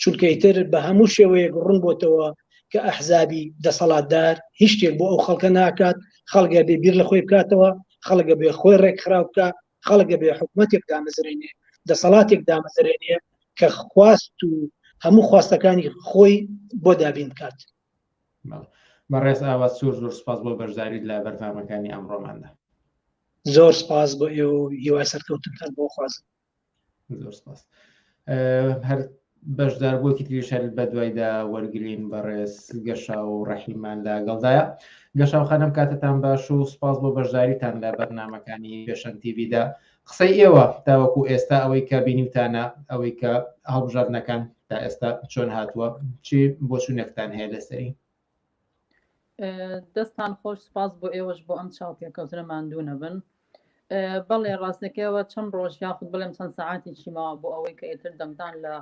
چونکەیتر بە هەموو شێوەیەک ڕوون بۆتەوە کە ئەحزابی دەسەڵاتدار هیچ شتێک بۆ ئەو خەڵکە ناکات خەڵگە بێ بیر لە خۆی بکاتەوە خەڵگە بێ خۆی ڕێکخراو بکە خەڵگە بێ حکوومەتێک دامەزرێنێ دەسەڵاتێک دامەزرێنێ کە خواست و هەموو خواستەکانی خۆی بۆ دابین بکات بەڕێز ئاوات زۆر زۆر سپاس بۆ بەشداریت لە بەرنامەکانی ئەمڕۆماندا زۆر سپاس بۆ ئێ و هیوای سەرکەوتنتان بۆ خوازم زۆر سپاس هەر بەشدار بۆکی تریشەل بە دوایدا وەرگین بەڕێز گەشا و ڕەحیمان لە گەڵدایە گەشاوخانم کاتتان باش و سپاس بۆ بەشداریتان لە بەرنمەکانی پێشەن تیویدا قسەی ئێوە تاوەکو ئێستا ئەوەی کە بینیوتانە ئەوەی کە هەڵبژاردنەکان تا ئێستا چۆن هاتووە چی بۆ چونێکتان هەیە لەسەری دەستان خۆش سپاس بۆ ئێوەش بۆ ئەم چاوپێکەوتنە ماندوو نەبن بەڵێ ڕاستەکەەوە چەند ڕۆژ یاخود بڵێم چەند سەعاتی چیماوە بۆ ئەوەی کە ئێتر دەمدان لە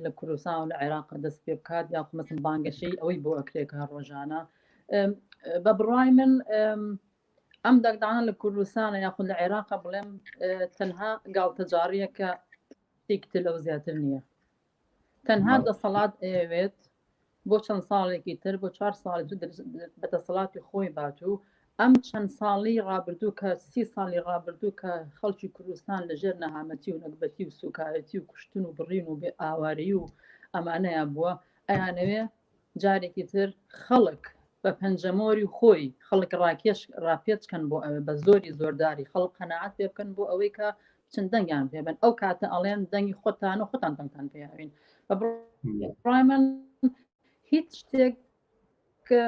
لە کوردستان و لە عێراق دەست پێ بکات یا خمەسم بانگەشەی ئەوەی بۆ ئەکرێکە ڕۆژانە بە بڕای من ئەم دەنگدانە لە کوردستانە یاخود لە عێراقە بڵێم تەنها گاڵتەجاڕیە کە شتێکتر لەو زیاتر نییە تەنها دەسەڵات ئەوێت بۆ چەند ساڵێکی تر بۆ چوار ساڵ بە دەسەڵاتی خۆی بات و ئەم چەند ساڵی ڕابردوو کە سی ساڵی ڕابردوو کە خەڵکی کوردستان لەژێر نەهامەتی و نەگبەتی و سوکایەتی و کوشتن و بڕین و بێ ئاوارەی و ئەمانەیە بووە ئەیانەوێ جارێکی تر خەڵک بە پەنجەمۆری خۆی خەڵک ڕاکێش ڕاپێچکەن بۆ ئەوێ بە زۆری زۆرداری خەڵک قەنەعات پێ بکەن بۆ ئەوەی کە چند دەنگیان پێبن ئەو کاتە ئەڵێن دەنگی خۆتان و خۆتان دەنگتان پێیاوین بە بڕای من هیچ شتێک کە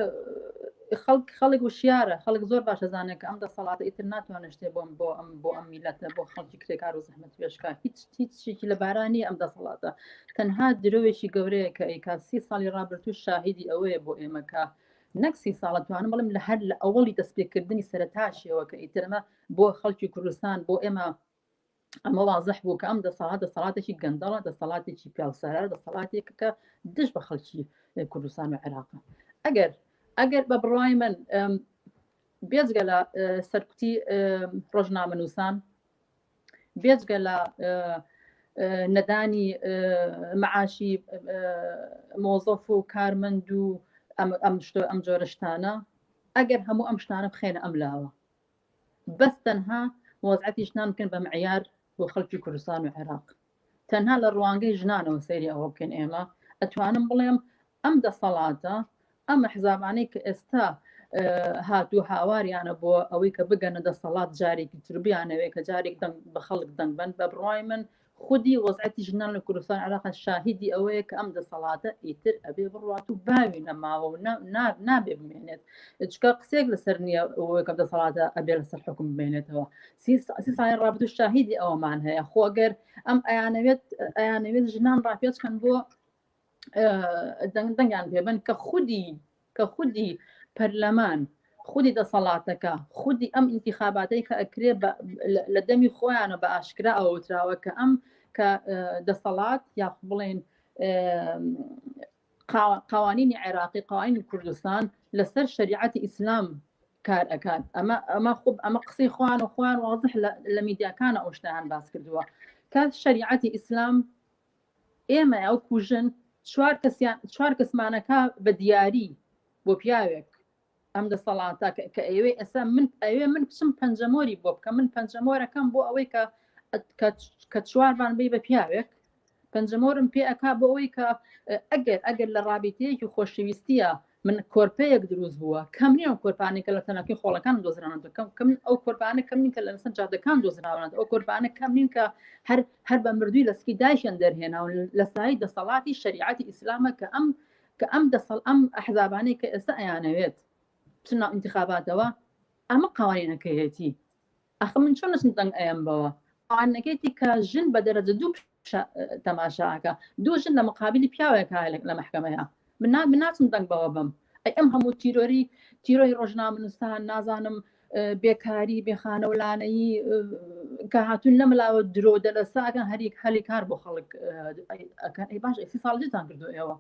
خەڵک خەڵک وشیارە خەڵک زۆر باشە زانێت کە ئەم دەسەڵاتە ئیتر ناتوانێت شتێ بۆم بۆ ئەم بۆ ئەم میلەتە بۆ خەڵکی کرێکار و زەحمەت پێشکا هیچ هیچ شتێکی لەبارا نییە ئەم دەسەڵاتە تەنها درۆێکی گەورەیە کە ئەیکا سی ساڵی ڕابرتوو شاهیدی ئەوەیە بۆ ئێمەکە نەک سی ساڵە توانم بڵم لە هەر لە ئەوڵی دەستپێکردنی سەرتاشیەوە کە ئیترمە بۆ خەڵکی کوردستان بۆ ئێمە ئەمە وازح بوو کە ئەم دەسەڵات دەسەڵاتێکی گەندەڵە دەسەڵاتێکی پیاوسەرە دەسەڵاتێک کە دژ بە خەڵکی کوردستان و عێراق ئەگەر ئەگەر بە بڕای من بێزگە لە سەرکوتی ڕۆژنامە نووسان بێجگە لە نەدانی معاشی مۆزەف و کارمەند و ئەم شتۆ ئەم جۆرەشتانە ئەگەر هەموو ئەم شتانە بخێنە ئەم لاوە بەس تەنها وەزعەتی شتان بکەن بە معیار بۆ خەڵکی کوردستان و عێراق تەنها لە ڕوانگەی ژنانەوە سەیری ئەوە بکەین ئێمە ئەتوانم بڵێم ئەم دەسەڵاتە ئەم حزابانەی کە ئێستا هاتو هاواریانە بۆ ئەوەی کە بگەنە دەسەڵات جارێکی تربیانەوێ کە جارێک دەنگ بە خەڵک دەنگبن بە بڕای من خودی وەزعەتی ژنان لە کوردستان عراق شاهیدی ئەوەیە کە ئەم دەسەڵاتە ئیتر ئەبێ بڕات و باوی نەماوە و نابێ بمێنێت چکە قسێک لەسەر نییە ئەوەکە دەسەڵاتە ئەبێ لەسەر حکم بمێنێتەوە سی ساڵی ڕابدو شاهیدی ئەوەمان هەیە خۆ گەر ئەم ئەیانەوێت ئەیانەوێت ژنان ڕاپێچکەن بۆ دەنگدەنگیان پێبن کە خودی کە خودی پەرلەمان خودی دەسەڵاتەکە خودی ئەم ئینتیخاباتەی کە ئەکرێ لە دەمی خۆیانە بە ئاشکرا ئەوتراوە کە ئەم کە دەسەڵات یا بڵێن قوانینی عێراقی قوانینی کوردستان لەسەر شەریعەتی ئیسلام کار ئەکات ئەمە ئەمە خوب ئەمە قسەی خوان و خوان وازح لە میدیاکانە ئەوشتیان باس کردووە کە شەریعەتی ئیسلام ئێمە ئەو کوژن چوار کەسیان چوار کەسمانەکە بە دیاری بۆ پیاوێک ئەم دەسەڵاتە کە ئەوێ ئێستا من ئەوێ من بچم پەنجەمۆری بۆ بکە من پەنجەمۆرەکەم بۆ ئەوەی کە کە چوارمان بی بە پیاوێک پەنجەمۆرم پێ ئەک بۆ ئەوەی کە ئەگەر ئەگەر لە ڕابیتەیەکی خۆشەویستیە من کۆرپەیەک دروست بووە کەم نیە ئەو کۆرپانی کە لە تەنەکی خۆڵەکان دۆزرانە دەکەم کەم ئەو کۆرپانە کەم نین کە لە لەسەر جادەکان دۆزراونەت ئەو کۆرپانە کەم نین کە هەر هەر بە مردووی لەسکی دایشن دەرهێناون لە سای دەسەڵاتی شریعەتی ئیسلامە کە ئەم کە ئەم دەسەڵ ئەم ئەحزابانەی کە ئێستا ئەیانەوێت بچن ناو ئینتخاباتەوە ئەمە قوانینەکەیەتی ئەخ من چۆن نەچم دەنگ ئەیەم بەوە قوانینەکەیتی کە ژن بە دەرەجە دوو تەماشاکە دوو ژن لە مقابلی پیاوێک لە محکمەیە من ناچم دەنگ بەوە بم ئەی ئەم هەموو تیرۆری تیرۆی ڕۆژنامەنووسان نازانم بێکاری، بێخانەولانەیی کە هاتوون نەملاوە درۆ دەلەساگەن هەریک هەلی کار بۆ خەڵک ئەکەن ئەی باش ئەسی ساڵجیتان کردو ئێوە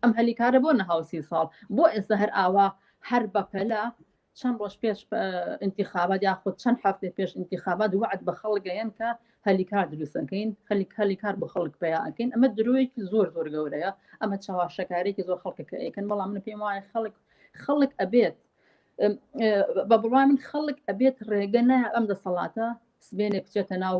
ئەم هەلی کارە بۆ نەهاوسی ساڵ بۆ ئێستا هەر ئاوا هەر بەپەلا چەند ڕۆژ پێش انتخابات یاخود چەند هەفتێ پێش انتخابات وعد بە خەڵگەیەن کە هەلی کار دروستەکەین خەلی هەلی کار بۆ خەڵک پیاکەین ئەمە درۆیەکی زۆر زۆر گەورەیە ئەمە چاواشەکارێکی زۆر خەڵکەکە ئەیکەن بەڵام من پێم وایە خەڵک خەڵک ئەبێت بە بڕوای من خەڵک ئەبێت ڕێگە نە ئەم دەسەڵاتە سبێنێ بچێتە ناو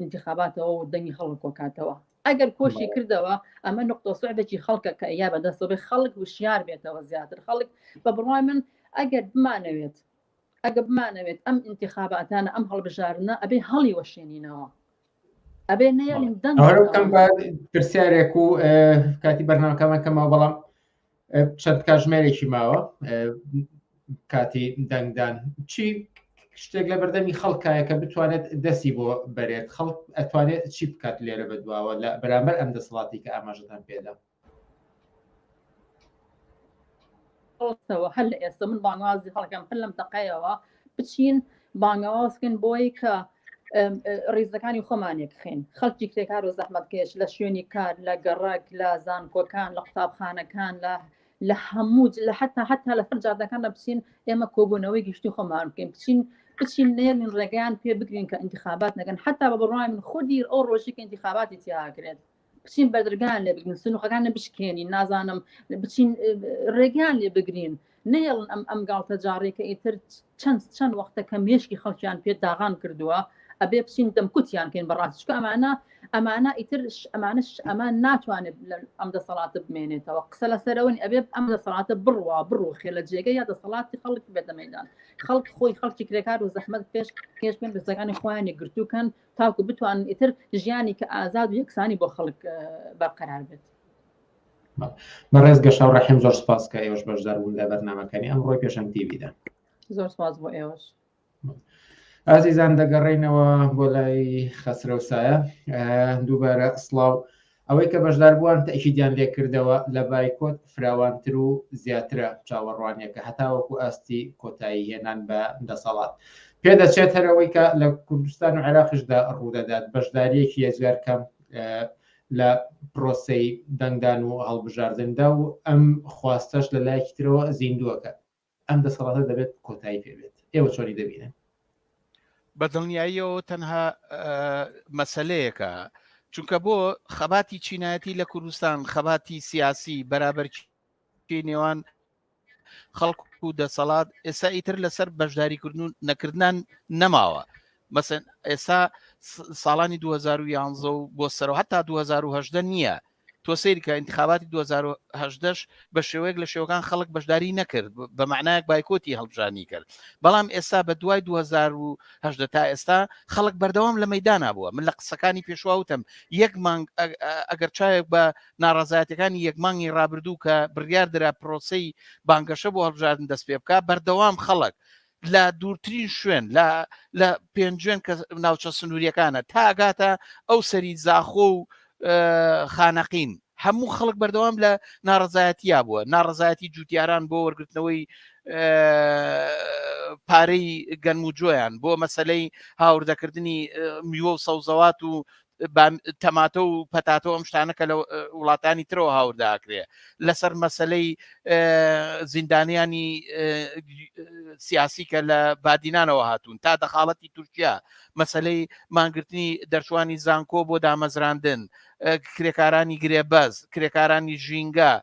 انتخاباتەوە و دەنگی خەڵک کۆکاتەوە ئەگەر کۆشی کردەوە ئەمە نقطە سعدێکی خەڵکە کە یا بەدەستەوە خەڵک وشیار بێتەوە زیاتر خەڵک بە بڕای من ئەگەر بمانەوێت ئەگە بمانەوێت ئەم انتخاباتانە ئەم هەڵبژارنە ئەبێ هەڵی وەشێنینەوە ئەبێ نەیەڵین دەنگ پرسیارێک و کاتی بەرنامەکەمان کەمەوە بەڵام چەند کاژمێرێکی ماوە کاتی دەنگدان چی شتێک لە بەردەمی خەڵکایە کە بتوانێت دەستی بۆ بەرێت خەڵک ئەتوانێت چی بکات لێرە بەدواوە لە بەرامبەر ئەم دەسەڵاتی کە ئاماژەتان پێدا ڕۆستەوە هەر لە ئێستا من بانوازی هەڵگەم هەر لەم دقەیەوە بچین بانگەواز بکەین بۆی کە ڕیزەکانی خۆمانێک خێن خەڵکی کرێکار و زەحمەتکێش لە شوێنی کار لە گەڕک لە زانکۆکان لە قوتابخانەکان لە لە هەموو لە حتا حتا لە فەر جادەکان لە بچین ئێمە کۆبوونەوەی گشتی خۆمان بکەین بچین بچین نێن ڕێگەیان پێ بگرین کە انتخابات نەکەن حتا بە بڕای من خودی ئەو ڕۆژی کە انتخاباتی تیاکرێت بچین بەدرگان لێ بگرین سنوخەکان نە بشکێنین نازانم بچین ڕێگان لێ بگرین نەهێڵن ئەم ئەم گاڵتە جاڕێکە ئیتر چەند چەند وەختە کە مێشکی خەڵکیان پێ داغان کردووە ئەبێ بچین دەمکوتیان کەین بەڕاستشکە ئەمانە ئەمانە ئیتر ئەمانش ئەمان ناتوانێت ئەم دەسەڵاتە بمێنێتەوە قسە لە سەرەوەنی ئەبێ ئەم دەسەڵاتە بڕوا بڕۆ خێ لە جێگە یا دەسەڵاتی خەڵک بێتە مەدان خەڵک خۆی خەڵکی کرێکار و زەحمەت پێش پێش پێ دەستەکانی خۆیانی گرتووکەن تاکو بتوانن ئیتر ژیانێکی ئازاد و یەکسانی بۆ خەڵک بەرقەرار بێت بەڕێز گەشا و ڕەحم زۆر سپاس کە ئێوەش بەشدار بوون لە بەرنمەکانی ئەم ڕۆی پێشم دیویدا زۆر سپاس بۆ ئێوەش ئازیزان دەگەڕینەوە بۆ لای خەسرە و سایە دووبارە سلااو ئەوەی کە بەشداربووان تەئکیدیان لێکردەوە لە بایکۆت فراوانتر و زیاترە چاوەڕوانیەکە هەتاوەکو ئاستی کۆتایی هێنان بە دەسەڵات پێدەچێت هەر ئەوەی کە لە کوردستان و عێراقیشدا ڕوودەدات بەشداریەکی یەجگار کەم لە پرۆسەی دەنگدان و هەڵبژاردندا و ئەم خواستەش لە لایەکی ترەوە زیندووەکە. ئەم دەسەڵاتە دەبێت کۆتایی پێ بێت ئێوە چۆنی دەبینن بەدڵنیاییەوە تەنها مەسلەیەکە چونکە بۆ خەباتی چینایەتی لە کوردستان خەباتی سیاسی بەرابەرکی نێوان خەڵک و دەسەڵات ئێستا ئیتر لەسەر بەشداریکردن و نەکردن نەماوە مەسەن ئێستا ساڵانی 2011 و بۆ سەرەوە هەتا 2010 نییە تۆ سیرکە انتخاباتی 2010 بە شێوەیەک لە شێوەکان خەڵک بەشداری نەکرد بە معنایەک بایکۆتی هەڵبژانی کرد بەڵام ئێستا بە دوای 2010 تا ئێستا خەڵک بەردەوام لە مەدانا بووە من لە قسەکانی پێشواوتم یەک مانگ ئەگەر چاوێک بە ناڕازایەتەکانی یەک مانگی رابردوو کە بڕیار درا پرۆسی بانگەشە بۆ هەڵبژاردن دەست پێ بکە بەردەوام خەڵک لە دوورترین شوێن لە لە پێنجوێن کە ناوچە سنووریەکانە تاگاتە ئەو سەری زاخۆ و خانەقین هەموو خەڵک بەردەوام لە ناڕزایەتیا بووە ناڕزایەتی جوتیاران بۆ وەرگرتنەوەی پارەی گەنم و جۆیان بۆ مەسلەی هاوردەکردنی میوە و سەوزەوات و تەماتە و پەتاتەوە ئەم شتانە کە لە وڵاتانی ترەوە هاورداکرێ لەسەر مەسلەی زیندانیانی سیاسی کە لە بادینانەوە هاتوون تا دەخاڵەتی تورکیا مەسلەی مانگرتنی دەرچوانی زانکۆ بۆ دامەزراندن کرێکارانی گرێبەز کرێکارانی ژینگە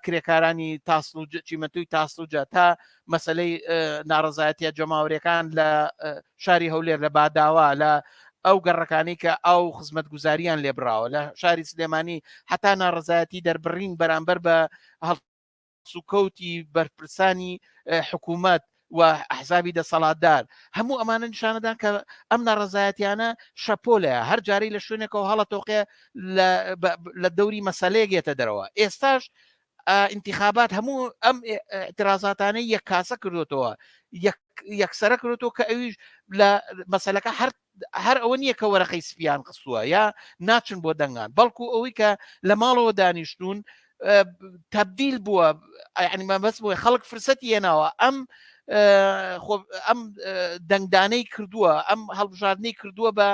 کرێکارانی تاسل و چیمەتوی تاسلوجا تا مەسەلەی ناڕزایەتە جەماوەرەکان لە شاری هەولێر لە باداوا لە ئەو گەڕەکانی کە ئاو خزمەت گوزاریان لێبراوە لە شاری سلێمانی حتا ناڕزایەتی دەربڕین بەرامبەر بە هەڵ سوکەوتی بەرپرسانی حکوومەت و ئەحزابی دەسەڵاتدار هەموو ئەمانە نیشانەدان کە ئەم ناڕزایەتیانە شەپۆلە هەر جارەی لە شوێنێکەوە هەڵە تۆقێ لە دەوری مەسلەیەگێتە دەرەوە ئێستاش ئینتخابات هەموو ئەم ئترازاتانەی یەک کاسە کردوتەوە یەکسرە کردوەوە کە ئەویش لە مەسلەکە هەر هەر ئەوە نییە کە وەرەقەی سپیان قسووە یا ناچن بۆ دەنگان بەڵکو ئەوەی کە لە ماڵەوە دانیشتون تبدیل بووە ئەنیمە بەس بۆی خەڵک فرسەتی یەناوە ئەم ئەم دەنگدانەی کردووە ئەم هەڵبژاردنەی کردووە بە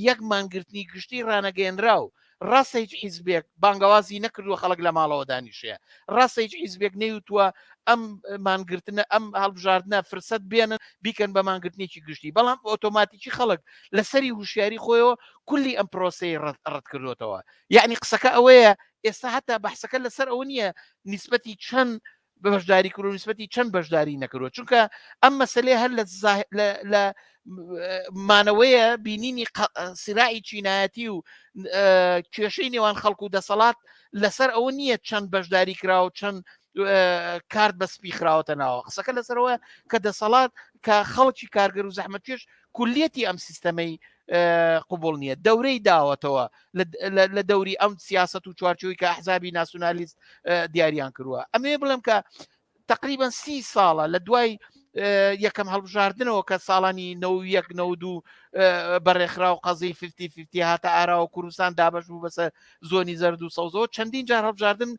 یەک مانگرتنی گشتی ڕانەگەێنرا و ڕاستە هیچ حیزبێک بانگەوازی نەکردووە خەڵک لە ماڵەوە دانیشێ، ڕاستە هیچ حیزبێک نەیوتووە ئەم مانگرتنە ئەم هەڵبژاردنە فرسەت بێنن بیکەن بە مانگرتنێکی گشتی، بەڵام ئۆتۆماتیکی خەڵک لە سەری هوشیاری خۆیەوە کولی ئەم پرۆسەی ڕەت کردۆتەوە، یەعنی قسەکە ئەوەیە ئێستا هەتا بەحسەکە لەسەر ئەوە نییە نیسبەتی چەند بەشداری کرد و نسبەتی چەند بەشداری نەکردوە چونکە ئەم مەسلەی هەر لە مانەوەیە بینینی سراعی چینایەتی و کێشەی نێوان خەڵکو و دەسەڵات لەسەر ئەوە نییە چەند بەشداری کرا و چەند کارت بە سپی خراوەتە ناوە قسەکە لەسەرەوە کە دەسەڵات کە خەڵکی کارگەر و زەحمەتێش کولیەتی ئەم سیستەمەی قوبول نییە دەورەی داوەتەوە لە دەوری ئەم سیاست و چوارچوی کە حزابی ناسیۆنالیست دیاریان کردووە ئەمێ بڵێم کە تقریبان سی ساڵە لە دوای یەکەم هەڵبژاردنەوە کە ساڵانی نەوەک نەو دوو بەڕێخرا و قەزی ففتی ففتی هاتە ئاراوە کوردستان دابش بوو بەسەر زۆنی زەرد و سەوزەوە چەندین جار هەڵبژاردن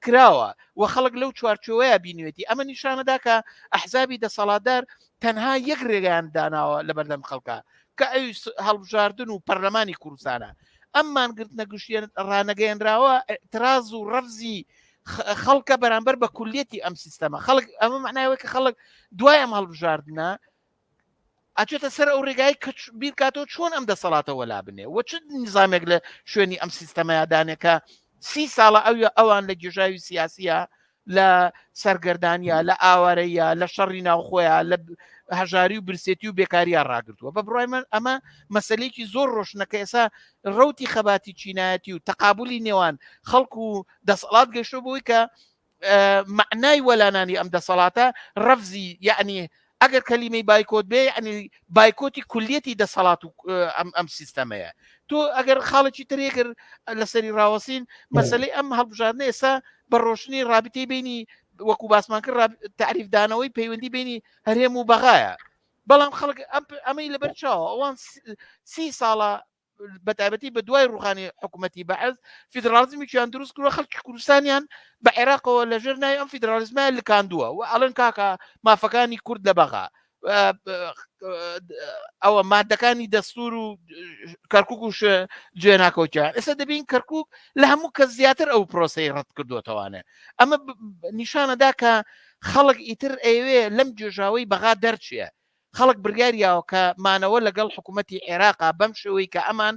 کراوە و خەڵک لەو چوارچوەیە بینوێتی ئەمە نیشانەدا کە ئەحزابی دەسەڵاتدار تەنها یەک ڕێگەیان داناوە لە بەردەم خەڵکە کە ئەوی هەڵبژاردن و پەرلەمانی کوردستانە ئەم مانگرتنە گشتیە ڕانەگەیەنراوە تراز و ڕەفزی خەڵکە بەرامبەر بە کولیەتی ئەم سیستەمە خەڵک ئەمە معناوەی کە خەڵک دوای ئەم هەڵبژاردنە ئەچێتە سەر ئەو ڕێگای کە بیرکاتەوە چۆن ئەم دەسەڵاتەوە لا بنێ وە چ نیزانێک لە شوێنی ئەم سیستەمەیادانێکە سی ساڵە ئەوە ئەوان لە گێژاوی سیاسیە لە سەرگەردانیا لە ئاوارەیە لە شەڕی ناوخۆیان لە هەژاری و برسێتی و بێکاریا ڕاگرتووە بە بڕای من ئەمە مەسلێکی زۆر ڕۆشنەکە ئێسا ڕوتی خەباتی چینایەتی و تەقابلی نێوان خەڵکو و دەسەڵات گەشتۆ بۆی کە معنای وەلانانی ئەم دەسەڵاتە ڕەفزی یعنی ئەگەر کەلیمەی بایکۆت بێ ینی بایکۆتی کولیەتی دەسەڵات و ئەم ئەم سیستەمەیە تۆ ئەگەر خاڵێکی ترێگر لەسەری ڕاوەسین مەسلەی ئەم هەڵبژاردنە ئێستا بە ڕۆشنی رابطەی بینی وەکو باسمان کرد تعریفدانەوەی پەیوەندی بینی هەرێم و بەغایە بەڵام خەڵک ئەمەی لەبەر چاوە ئەوان سی ساڵە بەتابەتی بە دوای ڕوخانی حکوومەتی بەعز فیدراڵزمیان دروست کردوە خەڵکی کوردستانیان بە عێراقەوە لە ژێر ناوی ئەم فیدرالیزمە لکاندووە و ئەڵەن کاکە مافەکانی کورد لە بەغا ئەوە مادەکانی دەستور و کەرکک و جوێ ناکەوتیان ئێستا دەبین کەرکک لە هەموو کە زیاتر ئەو پرۆسی ڕەت کردوتەوانێ ئەمە نیشانەدا کە خەڵک ئیتر ئەوێ لەم جێژاوی بەغا دەرچیە خەڵک بڕیار یاوە کە مانەوە لەگەڵ حکوومەتی عێراقا بەم شێوەی کە ئەمان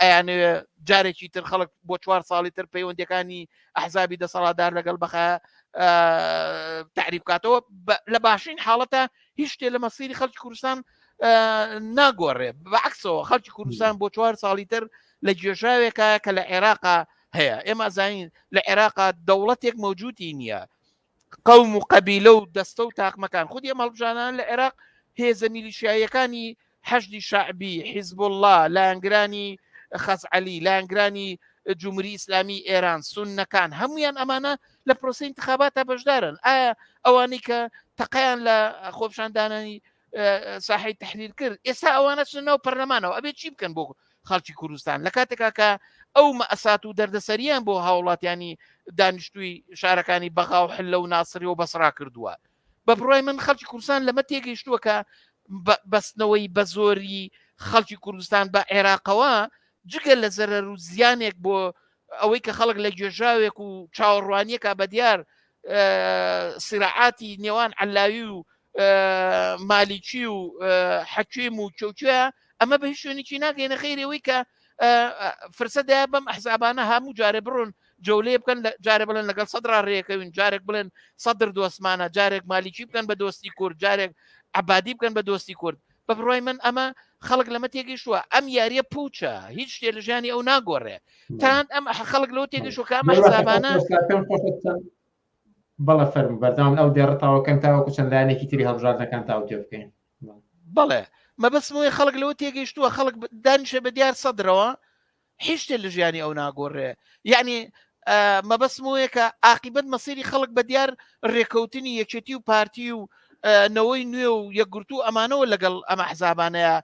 ئەیانەوێ جارێکی تر خەڵک بۆ چوار ساڵی تر پەیوەندەکانی ئەحزابی دەسەڵاتدار لەگەڵ بەخە تعریب کاتەوە لە باشین حاڵەتە هیچ شتێ لە مەسیری خەڵکی کوردستان ناگۆڕێ بەعکسەوە خەڵکی کوردستان بۆ چوار ساڵی تر لە گێژاوێکە کە لە عێراقا هەیە ئێمە زانین لە عێراقا دەوڵەتێک مەوجودی نییە قەوم و قەبیلە و دەستە و تاقمەکان خودی ئەم هەڵبژانانە لە عێراق هێزە میلیشیاییەکانی حەشدی شعبی حیزب الله لایەنگرانی خەزعەلی لایەنگرانی جمهوری ئیسلامی ئێران سونەکان هەمویان ئەمانە لە پرۆسی انتخاباتە بەشدارن ئایا ئەوانەی کە تەقیان لە خۆپشاندانانی ساحی تحریر کرد ئێستا ئەوانە چ ناو پەرلەمانەوە ئەبێ چی بکەن بۆ خەڵکی کوردستان لە کاتێکا کە ئەو مەسات و دەردەسەریان بۆ هاوڵاتیانی دانیشتووی شارەکانی بەغا و حلە و ناسری و بەسرا کردووە بە بڕای من خەڵکی کوردستان لەمە تێگەیشتووە کە بەستنەوەی بە زۆری خەڵکی کوردستان بە عێراقەوە جگە لە زەرەر و زیانێک بۆ ئەوەی کە خەڵک لە گوێژاوێک و چاوەڕوانیەکە بە دیار سراعاتی نێوان علاوی و مالیکی و حەکیم و چوچوە ئەمە بە هیچ شوێنێکی ناگەینە خیرەوەی کە فرسەدا بەم ئەحزابانە هەموو جارێ بڕۆن جەولێ بکەن جارێ بڵێن لەگەڵ سەدرا ڕێەکەوین جارێک بڵێن سەدر دۆستمانە جارێک مالیکی بکەن بە دۆستی کورد جارێک عبادی بکەن بە دۆستی کورد بە بڕای من ئەمە خەڵک لەمە تێگەیشتووە ئەم یاریە پوچە هیچ شتێ لە ژیانی ئەو ناگۆڕێ تان ئەم خەڵک لەو تێگەشو کە ئەمە حسابانە بەڵە فەرم بەرداوام ئەو دێڕتاوەکەن تاوەکو چەند لایەنێکی تری هەڵبژاردەکان تاو تێ بکەین بەڵێ مەبەسمەوەی خەڵک لەوە تێگەیشتووە خەڵک دانیشە بە دیار سەدرەوە هیچ شتێ لە ژیانی ئەو ناگۆڕێ یعنی مەبەستم وەیە کە ئاقیبەت مەسیری خەڵک بە دیار ڕێکەوتنی یەکێتی و پارتی و نەوەی نوێ و یەکگرتو و ئەمانەوە لەگەڵ ئەمە حزابانەیە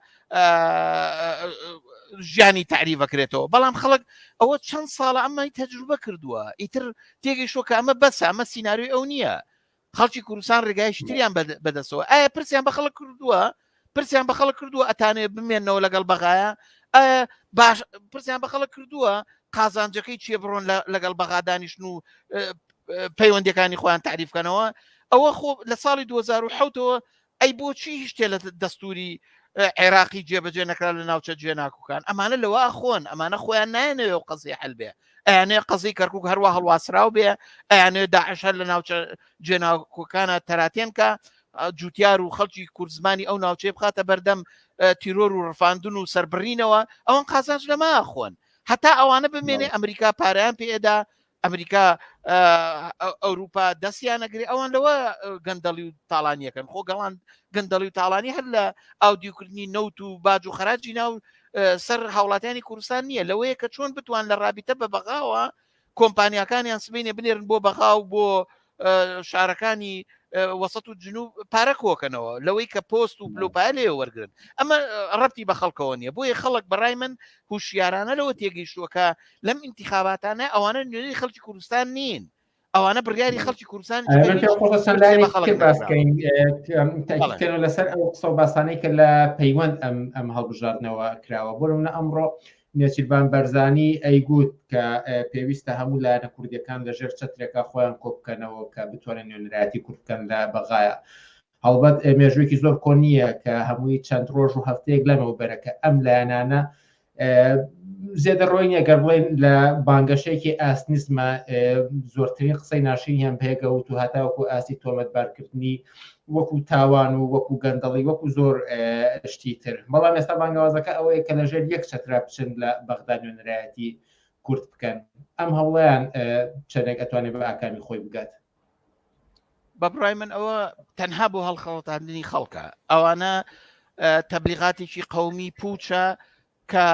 ژیانی تعریبەکرێتەوە بەڵام خەڵک ئەوە چەند ساڵە ئەمای تەجروبە کردووە ئیتر تێگەیشتوە کە ئەمە بەسە ئەمە سینناروی ئەو نییە خەڵکی کوردستان ڕێگایشی تریان بەدەستەوە ئایا پرسیان بە خەڵک کردووە پرسیان بە خەڵک کردووە ئەتانێ بمێنەوە لەگەڵ بەغایە ئایا باش پرسیان بە خەڵک کردووە قازانجەکەی چیە بڕۆن لەگەڵ بەغادانیشن و پەیوەندەکانی خۆیان تعریفکەنەوە ئەوە خۆ لە ساڵی 2010ەوە ئەی بۆچی هیچ تێ لە دەستوری عێراقی جێبەجێ نەکرا لە ناوچە جێناکوکان ئەمانە لەوە خۆن ئەمانە خۆیان نایەنەوە و قەزی هەلبێ ئەیانێ قەزی کەرکک هەروە هەڵواسراو بێ ئەیانێ داعشەر لە ناوچە جێناکوکانە تەراتێنکە جوتیار و خەڵکی کوردزمانی ئەو ناوچەی بخاتە بەردەم تیرۆر و ڕفاندن و سربڕینەوە ئەوان قازانج لەما خۆن هەتا ئەوانە بمێنێ ئەمریکا پاریان پێدا ئەمریکا ئەوروپا دەستیانەگری ئەوان لەوە گەندەڵی و تاالانیەکەن خۆ گەڵان گەندەڵی و تاالانی هەر لە ئاودیوکردنی نەوت و باج و خراجی ناو سەر هاوڵاتیانی کوردستان نییە لەوەیە کە چۆن بتوان لە رابیتە بە بەغاوە کۆمپانیەکانیان سبینێ بنێرن بۆ بەغا و بۆ شارەکانی وەسەت و جنوب پارە کۆکەنەوە لەوەی کە پۆست و بلوپای لێ وەرگن ئەمە ڕەتی بە خەڵکەوە نیە بۆیە خەڵک بەڕای من هوشیارانە لەوە تێگەیشتووەکە لەم انتخاباتانە ئەوانە نوێی خەڵکی کوردستان نین ئەوانە بڕیاری خەڵکی کوردستان تاکیکەن لەسەر ئەو قسە باسانەی کە لە پەیوەند ئەم ئەم هەڵبژاردنەوە کراوە بۆ منە ئەمڕۆ نێچیرڤان بەرزانی ئەیگوت کە پێویستە هەموو لایەنە کوردییەکان لە ژێر چەترێکا خۆیان کۆبکەنەوە کە بتوانن نوێنەرایەتی کورد بکەن لە بەغایا. هەڵبەت مێژوویەکی زۆر کۆن نییە کە هەمووی چەند ڕۆژ و هەفتەیەک لەمەو بەرە کە ئەم لایەنانە زێدە ڕۆی نیە گەر بڵێن لە بانگەشەیەکی ئاسنیزمە زۆرترین قسەی ناشرینیان پێگەوت و هەتاوەکو ئاستی تۆمەتبارکردنی وەکو تاوان و وەکو گەندەڵی وەکو زۆر شتی تر بەڵام ئێستا بانگەوازەکە ئەوەیە کە لەژێر یەک چەترا بچن لە بەغدا نوێنەرایەتی کورد بکەن ئەم هەوڵیان چەندێک ئەتوانێت بە ئاکامی خۆی بگات بە بڕای من ئەوە تەنها بۆ هەڵخەڵتاندنی خەڵکە ئەوانە تەبلیغاتێکی قومی پوچە کە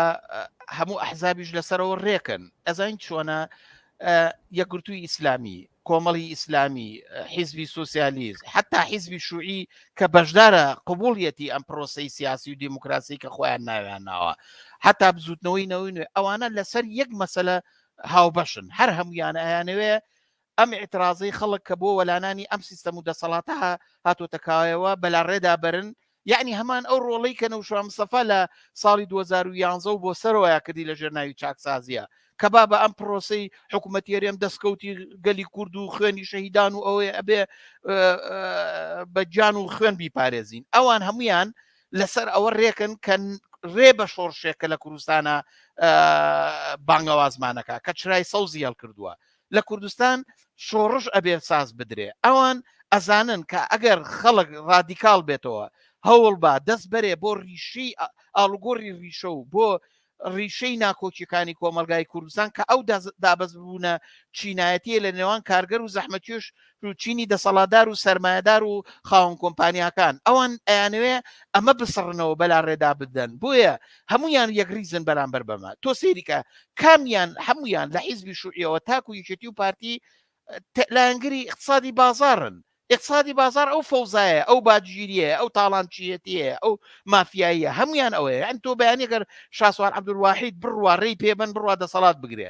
هەموو ئەحزابیش لەسەرەوە ڕێکن ئەزین چۆنە یەکگرتووی ئیسلامی کۆمەڵی ئیسلامی حیزبی سوسیالیست حتا حیزبی شوعی کە بەشدارە قوبولیەتی ئەم پرۆسی سیاسی و دیموکراسی کە خۆیان ناویان ناوە حتا بزوتنەوەی نەوەی نوێ ئەوانە لەسەر یەک مەسلە هاوبەشن هەر هەمویانە ئەیانەوێ ئەم ئیعترازەی خەڵک کە بۆ وەلانانی ئەم سیستەم و دەسەڵاتە هاتۆتە کایەوە بەلاڕێدا بەرن، یەعنی هەمان ئەو ڕۆڵەی کە نەوشوان مستەفا لە ساڵی دوو هەزار و یانزە و بۆ سەرەوەیا کردی لە ژێرناوی چاکسازییە کە با بە ئەم پرۆسەی حکوومەتیەری ئەم دەستکەوتی گەلی کورد و خوێنی شەهیدان و ئەوەی ئەبێ بە گیان و خوێن بیپارێزین ئەوان هەمویان لەسەر ئەوە ڕێکن کە ڕێ بە شۆڕشێک کە لە کوردستانە بانگەوازمانەکە کە چرای سەوزی هەڵکردووە لە کوردستان شۆڕش ئەبێ ساز بدرێ ئەوان ئەزانن کە ئەگەر خەڵک ڕادیکاڵ بێتەوە هەوڵ با دەست بەرێ بۆ ڕیشەی ئاڵوگۆری ڕیشە و بۆ ڕیشەی ناکۆکیەکانی کۆمەلگای کوردستان کە ئەو دابەزبوونە چینایەتیە لە نێوان کارگەر و زەحمەتیش و چینی دەسەڵاتدار و سەرمایەدار و خاوەن کۆمپانیاکان ئەوان ئەیانەوێ ئەمە بسڕنەوە بەلا ڕێدا بدەن بۆیە هەمویان یەکریزن بەرامبەر بەمە تۆ سەیریکە کامیان هەمویان لە حیزبی شوعیەوە تاکو یەکێتی و پارتی لایەنگری اقتصادی بازارن اقتصادی بازار ئەو فەوزایە ئەو باجگیریە ئەو تاڵانچیەتیە ئەو مافیاییە هەمویان ئەوەیە ئەن تۆ بەیانەگەر شاسوار عبدواحید بڕوا ڕێی پێبەن بڕوا دەسەڵات بگرێ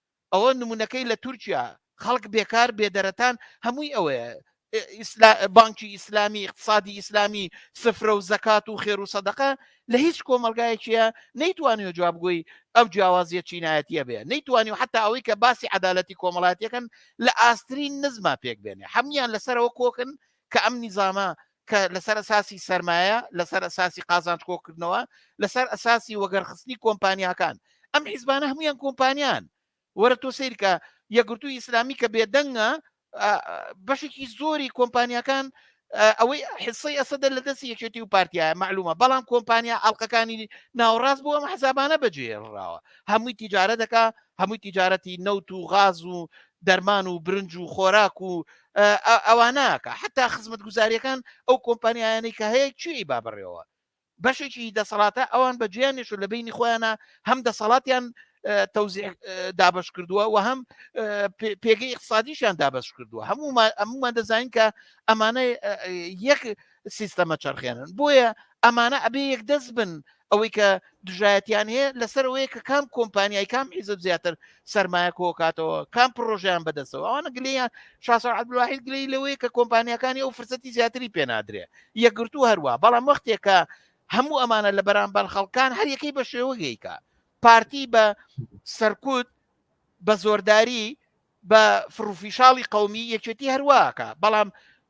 ئەوە نمونەکەی لە تورکیا خەڵک بێکار بێدەرەتان هەمووی ئەوەیە بانکی ئیسلامی اقتصادی ئیسلامی سفرە و زەکات و خێر و سەدەقە لە هیچ کۆمەلگایەکیە نەیتوانی و جوابگوی ئەو جیاوازیە چینایەتە بێ نەیتوانی و حتا ئەوەی کە باسی عدالەتی کۆمەڵاتیەکەن لە ئاسترین نزما پێک بێنێ هەموان لەسەرەوە کۆکن کە ئەم نیزامە کە لەسەر ئەساسی سەرمایە لەسەر ئەساسی قازانج کۆکردنەوە لەسەر ئەساسی وەگەرخستنی کۆمپانیاکان ئەم حیزبانە هەمویان کۆمپانیان وەرە تۆ سیرکە یەگرتو ئیسلامی کە بێدەنگە بەشێکی زۆری کۆمپانیەکان ئەوەی حسەی ئەسەدە لە دەستی یەکێتی و پارتیایە معلومە بەڵام کۆمپانیا ئەڵلقەکانی ناوڕاست بۆ ئەم حسابانە بەجێڕاوە هەمووی تیجارە دەکا هەمووی تیجارەتی نەوت و غاز و دەرمان و برنج و خۆراک و ئەوانەکە حتا خزمەت گوزاریەکان ئەو کۆمپانیایانی کە هەیە چی با بڕێەوە بەشێکی دەسەڵاتە ئەوان بە جیانش لە بینی خۆیانە هەم دەسەڵاتیان تەوزیع دابش کردووە و هەم پێگەی اقتصادیشان دابش کردووە هەموو هەمومان دەزانین کە ئەمانە یەک سیستەمە چرخێنن بۆیە ئەمانە ئەبێ یەک دەست بن ئەوەی کە دژایەتیان هەیە لەسەرەوەی کە کام کۆمپانیای کام حیزب زیاتر سرمایە کۆکاتەوە کام پرۆژیان بەدەستەوە ئەوانە گلیان شاسە عبدواحید گلی لەوەیە کە کۆمپانیەکانی ئەو فرسەتی زیاتری پێنادرێ یەکگرتو هەروە بەڵام وەختێکە هەموو ئەمانە لە بەرامبەر خەڵکان هەر یەکەی بە شێوەگەیکە پارتی بە سەرکوت بە زۆرداری بە فڕوفیشاڵی قومی یەکێتی هەرواکە بەڵام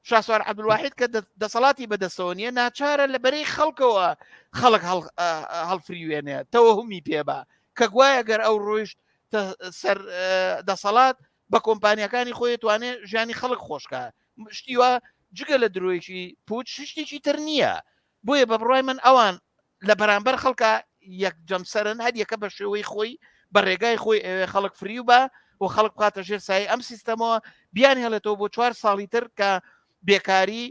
شاسوار عبدواحید کە دەسەڵاتی بەدەستەوە نیە ناچارە لە بەرەی خەڵکەوە خەڵک هەڵفریوێنێ تەوەهمی پێبا کە گوایە گەر ئەو ڕۆیشت سەر دەسەڵات بە کۆمپانیەکانی خۆی توانێ ژیانی خەڵک خۆشکە شتیوە جگە لە درۆیەکی پوچ شتێکی تر نییە بۆیە بە بڕای من ئەوان لە بەرامبەر خەڵکە یەک جەمسەرن هەر یەکە بە شێوەی خۆی بە ڕێگای خۆی ئەوێ خەڵک فریو بە و خەڵک بکاتە ژێر سای ئەم سیستەمەوە بیان هێڵێتەوە بۆ چوار ساڵی تر کە بێکاری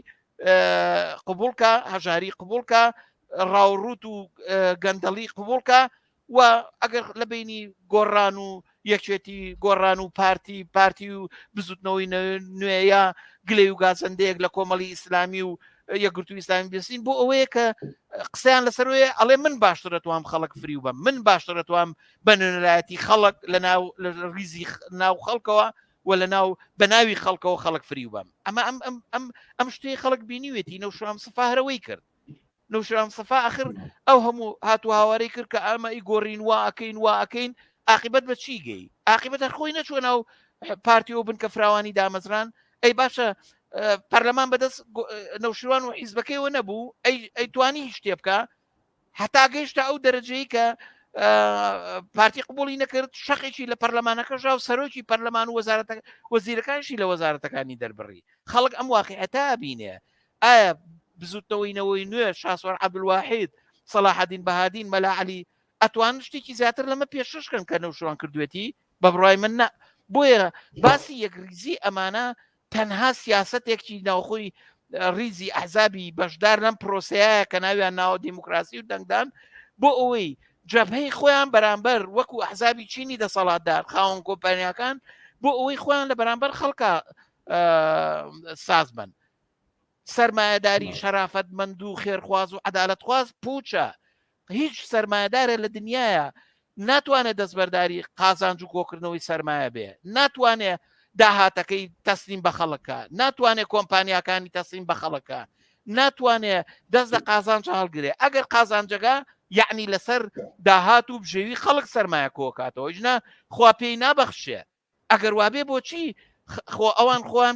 قوبولکە هەژاری قوبولکە ڕاوڕوت و گەندەڵی قوبولکە و ئەگەر لە بینی گۆڕان و یەکێتی گۆڕان و پارتی پارتی و بزوتنەوەی نوێە گلەی و گازەندەیەک لە کۆمەڵی ئیسلامی و یەکگرتو ئیسلامی بسین بۆ ئەوەیە کە قسەیان لەسەرەیە ئەڵێ من باشترە توام خەڵک فریو بە من باشترە توام بە نوێنەرایەتی خەڵک لە ناو لە ریزی ناو خەڵکەوە و لە ناو بە ناوی خەڵکەوە خەڵک فریو بم ئەمە ئەم ئەم ئەم ئەم شتەی خەڵک بینیوێتی نەوشام سفاهرەوەی کرد نوشران سەفا ئەخر ئەو هەموو هاتو هاوارەی کرد کە ئەمە ئی گۆڕین وا ئەەکەین وا ئەەکەین عقیبەت بە چی گەی عقیبەت هەر خۆی نەچوە ناو پارتی و بنکە فراوانی دامەزران ئەی باشە پەرلەمان بەدەست نەوشیروان و حیزبەکەیەوە نەبوو ئەی توانی هیچ شتێ بکە هەتا گەیشتە ئەو دەرەجەیە کە پارتی قوبولی نەکرد شەقێکی لە پەرلەمانەکەشا و سەرۆکی پەرلەمان و وەزارەتە وەزیرەکانشی لە وەزارەتەکانی دەربڕی خەڵک ئەم واقعەتا بینێ ئایا بزوتنەوەی نەوەی نوێ شاسوار عبدولواحید سەلاحەدین بەهادین مەلا علی ئەتوان شتێکی زیاتر لەمە پێششکەن کە نەوشوان کردوێتی بە بڕای من نە بۆیە باسی یەکریزی ئەمانە تەنها سیاستێکی ناوخۆی ریزی ئەحزابی بەشدار لەم پرۆسەیە کە ناویان ناوە دیموکراسی و دەنگدان بۆ ئەوەی جەبهەی خۆیان بەرامبەر وەکو ئەحزابی چینی دەسەڵاتدار خاوەن کۆمپانیاکان بۆ ئەوەی خۆیان لە بەرامبەر خەڵکە سازبن سرمایهداری شەرافەت مند و خێرخواز و عدالتخواز پوچە هیچ سرمایهدارە لە دنیاە ناتوانێت دەستبەرداری قازانج و کۆکردنەوەی سرمایە بێ ناتوانێت داهاتەکەی تەسلیم بە خەڵکە ناتوانێت کۆمپانیاکانی تەسلیم بە خەڵکە ناتوانێت دەست لە قازانج هەڵگرێ ئەگەر قازانجەکە یعنی لەسەر داهات و بژێوی خەڵک سرمایە کۆکاتەوە ژنا خوا پێی نابەخشێ ئەگەر وابێ بۆچی خۆ ئەوان خۆیان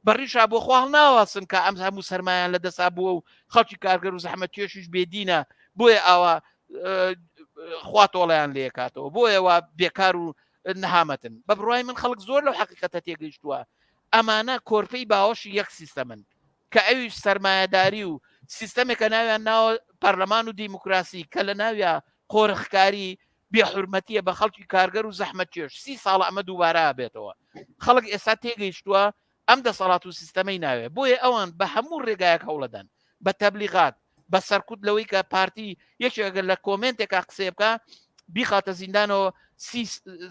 بەڕیشا بۆ خواڵ ناواسن کە ئەم هەموو سەرمایان لە دەسا بووە و خەڵکی کارگەر و زەحمە توێشیش بێدینە بۆیە ئاوا خوا تۆڵیان لێکاتەوە بۆیەوە بێکار و نەهامەتن بە بڕای من خەڵک زۆر لەو حقیقەتە تێگەیشتووە ئەمانە کۆرپەی باوەشی یەک سیستەمن کە ئەویش سرمایهداری و سیستەمێکە ناویان ناوە پەرلەمان و دیموکراسی کە لە ناویا قۆرخکاری بێ حورمەتیە بە خەڵکی کارگەر و زەحمەت کێش سی ساڵە ئەمە دووبارە بێتەوە خەڵک ئێستا تێگەیشتووە ئەم دەسەڵات و سیستەمەی ناوێ بۆیە ئەوان بە هەموو ڕێگایەک هەوڵەدەن بە تەبلیغات بە سەرکوت لەوەی کە پارتی یەکێکگەر لە کۆمنتێکا قسێ بکە بیخاتە زیندانەوە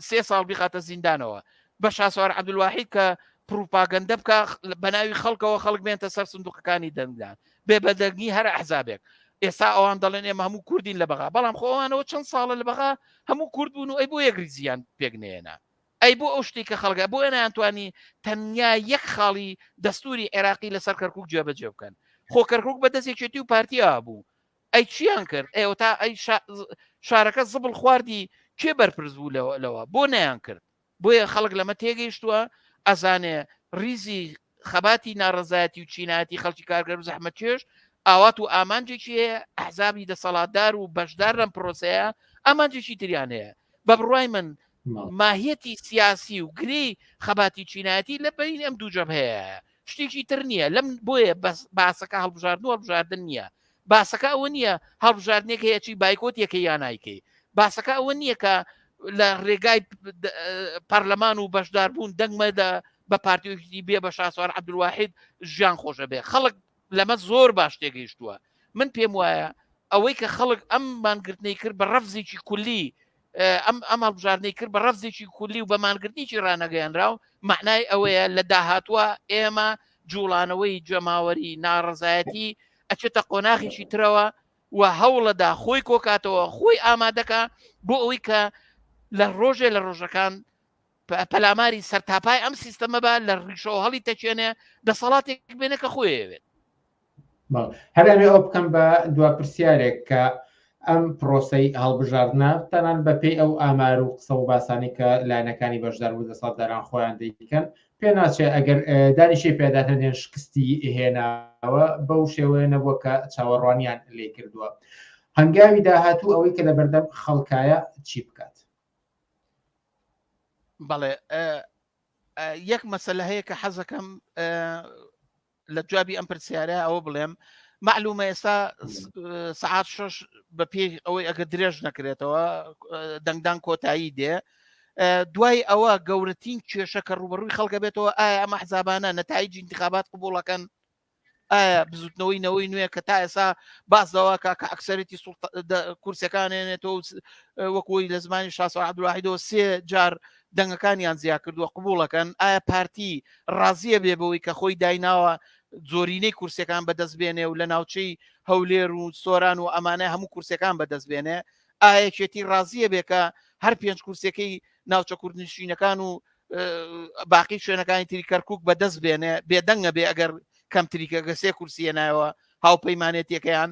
سێ ساڵ بیخاتە زیندانەوە بە شاسوار عبدواحید کە پروپاگەندە بکە بە ناوی خەڵکەوە خەڵک بێنتە سەر سندوقەکانی دەنگدان بێ بەدەگنی هەر ئەحزابێک ئێستا ئەوان دەڵێن ئێمە هەموو کوردین لە بەغا بەڵام خۆوانەوە چەند ساڵە لە بەغا هەموو کورد بوون و ئەی بۆ یەکری زیان پێکنێنە ئەی بۆ ئەو شتێک کە خەڵگە بۆ ئەنانتوانی تەنیا یەک خاڵی دەستوری عێراقی لەسەر کەرکک جێبەجێ بکەن خۆ کەرکک بە دەستێکێتی و پارتیا بوو ئەی چیان کرد ئێوە تا ئەی شارەکە زبڵ خواردی کێ بەرپرس بوو لەوە بۆ نیان کرد بۆیە خەڵک لەمە تێگەیشتووە ئەزانێ ریزی خەباتی ناڕزایەتی و چینایەتی خەڵکی کارگەر و زەحمە چێش ئاوات و ئامانجێکی هەیە ئەحزابی دەسەڵاتدار و بەشدار لەم پرۆسەیە ئامانجێکی تریان هەیە بە بڕای من ماهیەتی سیاسی و گری خەباتی چینایەتی لە بین ئەم دوو جەب هەیە شتێکی تر نییە لەم بۆیە بەس باسەکە هەڵبژاردن و هەڵبژاردن نییە باسەکە ئەوە نییە هەڵبژاردنێک هەیەی بایکۆت یەکە یا نایکەی باسەکە ئەوە نییە کە لە ڕێگای پەرلەمان و بەشدار بوون دەنگمە لە بە پارتیویشتی بێ بە شاسوار عبدواحید ژیان خۆشە بێ خەڵک لەمە زۆر باش تێگەیشتووە من پێم وایە ئەوەی کە خەڵک ئەم مانگرتنەی کرد بە ڕەفزێکی کولی ئەم ئەم هەڵبژاردنەی کرد بە ڕەفزێکی کولی و بە مانگرتنیی ڕانەگەیانراو معنای ئەوەیە لە داهاتوە ئێمە جوڵانەوەی جەماوەری ناڕزایەتی ئەچێتە قۆناغیشی ترەوە و هەوڵەدا خۆی کۆکاتەوە خۆی ئامادەکە بۆ ئەوەی کە لە ڕۆژێ لە ڕۆژەکان پەلاماری سەرتاپای ئەم سیستەمە بە لە ڕیشەوە هەڵی تەچێنێ دەسەڵاتێک بێنە کە خۆیەوێت هەرێمێ ئەو بکەم بە دوا پرسیارێک کە ئەم پرۆسی هەڵبژاردنە تەنان بە پێی ئەو ئامار و قسە و باسانی کە لایەنەکانی بەشدار بوو دەسەڵ دەران خۆیان دەیکەن پێ ناچێت ئەگەر دانیشی پێدا هەندێن شکستی هێناوە بەو شێوەیە نەبووە کە چاوەڕوانیان لێ کردووە هەنگاوی داهاتوو ئەوەی کە لە بەردەم خەڵکایە چی بکات بەڵێ یەک مەسلە هەیە کە حەزەکەم لە جوابی ئەم پرسیارە ئەوە بڵێم معلومە ئێستا سعات شش بە پێ ئەوەی ئەگە درێژ نەکرێتەوە دەنگدان کۆتایی دێ دوای ئەوە گەورەترین کێشە کە ڕوبەڕووی خەڵکە بێتەوە ئایا ئەمە حزابانە نەتایی جینتیخابات قوبوڵەکەن ئایا بزوتنەوەی نەوەی نوێ کە تا ئێسا باس داواکە کە ئەکسەرەتی کورسەکانێنێتەوە وەکوی لە زمانی شاسەعادواحیدەوە سێ جار دەنگەکانیان جیاکردووە قبوڵەکەن ئایا پارتی ڕازیە بێ بەوەی کە خۆی دایناوە زۆرینەی کورسەکان بەدەست بێنێ و لە ناوچەی هەولێر و سۆران و ئەمانە هەموو کورسەکان بەدەست بێنێ ئاەکێتی ڕازیە بێ کە هەر پێنج کورسەکەی ناوچە کوردنشینەکان و باقی شوێنەکانی تری کەرکک بەدەست بێنێ بێدەنگە بێ ئەگەر کەمتریکە گەسێ کورسیە نایەوە هاوپەیمانێتیەکەیان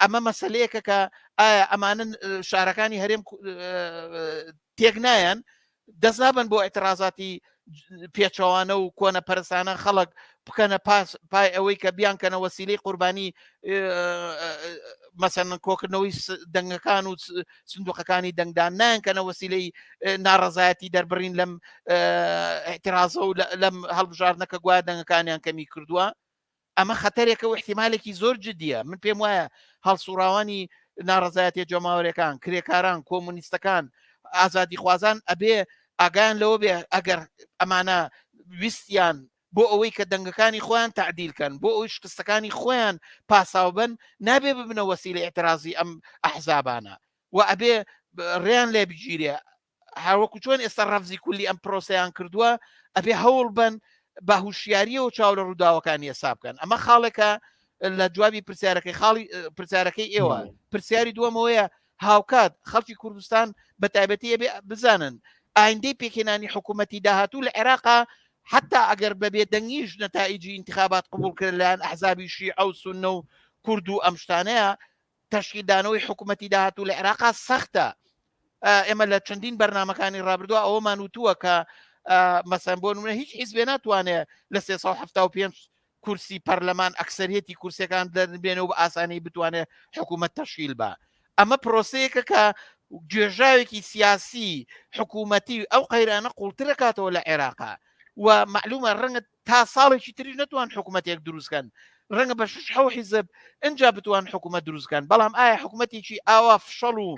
ئەمە مەسلەیەکە کە ئایا ئەمانە شارەکانی هەرێم تێک نایەن دەست نابن بۆ ئەترازاتی پێچەوانە و کۆنە پەرسانە خەڵک بکەنە پاس پای ئەوەی کە بیانکەنە وەسیلی قوربانی مەسەن کۆکردنەوەی دەنگەکان و سندوقەکانی دەنگدان نانکەنە وەسیلەی ناڕزایەتی دەربڕین لەم احترازە و لەم هەڵبژاردنەکە گویا دەنگەکانیان کەمی کردووە ئەمە خەتەرێکە و احتیمالێکی زۆر جدیە، من پێم وایە هەڵسوڕاوانی ناڕەزایەتیە جەماوەرێکان، کرێکاران، کۆمونیستەکان، ئازادیخوازان ئەبێ ئاگایان لەوە بێ ئەگەر ئەمانە ویستیان بۆ ئەوەی کە دەنگەکانی خۆیان تعدیلکەن بۆ ئەوی شکستەکانی خۆیان پاساوبن نابێ ببنە وەسیلی اعترازی ئەم ئەحزابانە و ئەبێ ڕێیان لێ بگیرێ هاوەکو چۆن ئێستا ڕەفزی کولی ئەم پرۆسەیان کردووە ئەبێ هەوڵ بن بە هوشیاریەوە چاو لە ڕووداوەکانی ئێسا بکەن ئەمە خاڵێکە لە جوابی پرسیارەکەی خاڵی پرسیارەکەی ئێوە پرسیاری دووەمەوەیە هاوکات خەڵکی کوردستان بە تایبەتی ئەبێ بزانن ئایندەی پێکێنانی حکوومەتی داهاتوو لە عێراقا حتا ئەگەر بەبێ دەنگیش نەتائیجی انتخابات قبولکرد لەیان ئەحزابی شیعە و سنە و کورد و ئەم شتانەیە تەشکیلدانەوەی حکوومەتی داهاتوو لە عێراقا سەختە ئێمە لە چەندین بەرنمەکانی ڕابردووە ئەوەمان وتووە کە مەسەن بۆ نمونە هیچ حیزبێ ناتوانێت لە 375 کورسی پەرلەمان ئەکسەرەتی کورسەکان دەربێنە و بە ئاسانی بتوانێت حکوومەت تەشیل بە ئەمە پرۆسەیەکە کە گوێژاوێکی سیاسی حکوومەتی ئەو قەیرانە قوڵترەکاتەوە لە عێراقا و معلومە ڕەنگە تا ساڵێکی تریش نەتوان حکومەتێک دروست کەن ڕەنگە بە شش حەو حیزب ئەجا بتوان حکوومەت دروست کەن بەڵام ئایا حکوومەتێکی ئاوا فشەڵ و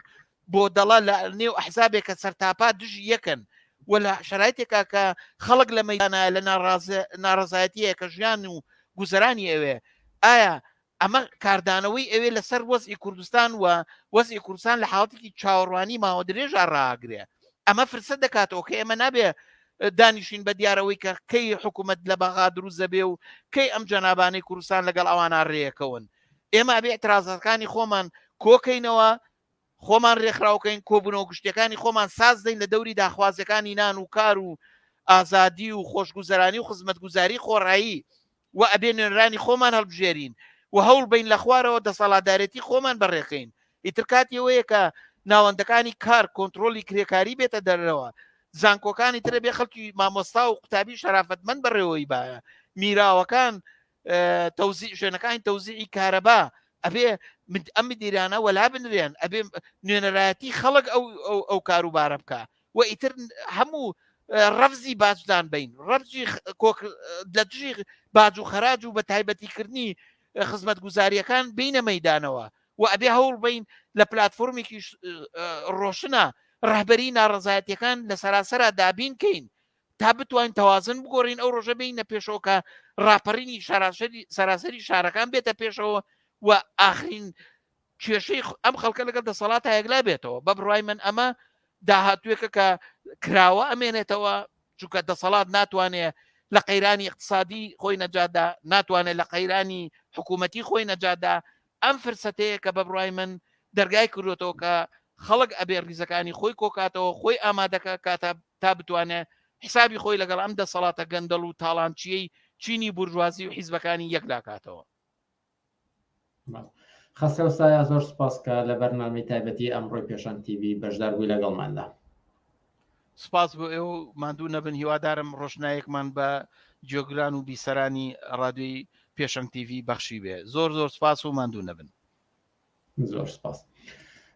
بۆ دەڵە لە نێو ئەحزابێک کە سەرتاپا دژی یەکەن و لە شرایتێکا کە خەڵک لە مەدانە لە ناڕازایەتیە کە ژیان و گوزەرانی ئەوێ ئایا ئەمە کاردانەوەی ئەوێ لەسەر وەزعی کوردستان و وەزعی کوردستان لە حاڵەتێکی چاوەڕوانی ماوە درێژا ڕاگرێ ئەمە فرسەت دەکاتەوە کە ئێمە نابێ دانیشین بە دیارەوەی کە کەی حکوومەت لە بەغا دروست دەبێ و کەی ئەم جەنابانەی کوردستان لەگەڵ ئەوانە ڕێەکەون ئێمە ئەبێ اعترازەکانی خۆمان کۆکەینەوە خۆمان ڕێکخراوکەین کۆبوونەوە گشتەکانی خۆمان ساز دەین لە دەوری داخوازەکانی نان و کار و ئازادی و خۆشگوزەرانی و خزمەتگوزاری خۆڕایی و ئەبێ نوێنرانی خۆمان هەڵبژێرین و هەوڵ بین لە خوارەوە دەسەڵاتدارێتی خۆمان بەڕێخەین ئیتر کاتی ئەوەیە کە ناوەندەکانی کار کۆنترۆلی کرێکاری بێتە دەرەوە زانکۆکانی ترە بێ خەڵکی مامۆستا و قوتابی شەرافەتمەند بەڕێوەی باە میراوەکان تەوزی شوێنەکانی تەوزیعی کارەبا ئەبێ ئەم دیرانە وەلا بنرێن ئەبێ نوێنەرایەتی خەڵک ئەو ئەو کاروبارە بکە و ئیتر هەموو ڕەفزی باجدان بین ڕەبجی لە دژی باج و خەراج و بە تایبەتیکردنی خزمەت گوزاریەکان بینە مەدانەوە و ئەبێ هەوڵ بین لە پلتفۆرمێکی ڕۆشنە ڕهبەری ناڕزایەتەکان لە سەراسەرا دابین کەین تا بتوانین تەوازن بگۆڕین ئەو ڕۆژە بینە پێشەوەکە ڕاپەڕینی سەراسەری سەراسەری شارەکان بێتە پێشەوە و ئاخرین کێشەی ئەم خەڵکە لەگەڵ دەسەڵات تا یەکلا بێتەوە بە بڕای من ئەمە داهاتوێکە کە کراوە ئەمێنێتەوە چونکە دەسەڵات ناتوانێت لە قەیرانی اقتصادی خۆی نەجادا ناتوانێت لە قەیرانی حکوومەتی خۆی نەجادا ئەم فرسەتەیە کە بە بڕای من دەرگای کردوێتەوە کە خەڵک ئەبێ ریزەکانی خۆی کۆکاتەوە خۆی ئامادەکە کاتە تا بتوانێت حسابی خۆی لەگەڵ ئەم دەسەڵاتە گەندەڵ و تاڵانچیەی چینی بورژوازی و حیزبەکانی یەکلاکاتەوە خەسرەو سایا زۆر سپاس کە لە بەرنامەی تایبەتی ئەمڕۆی پێشان TV بەشدار بووی لەگەڵماندا سپاس بۆ ئێوە و ماندوو نەبن هیوادارم ڕۆشنایەکمان بە جۆگران و بیسەرانی ڕادوی پێشەنگ TV بەخشی بێ زۆر زۆر سپاس و ماندوو نەبن زۆر سپاس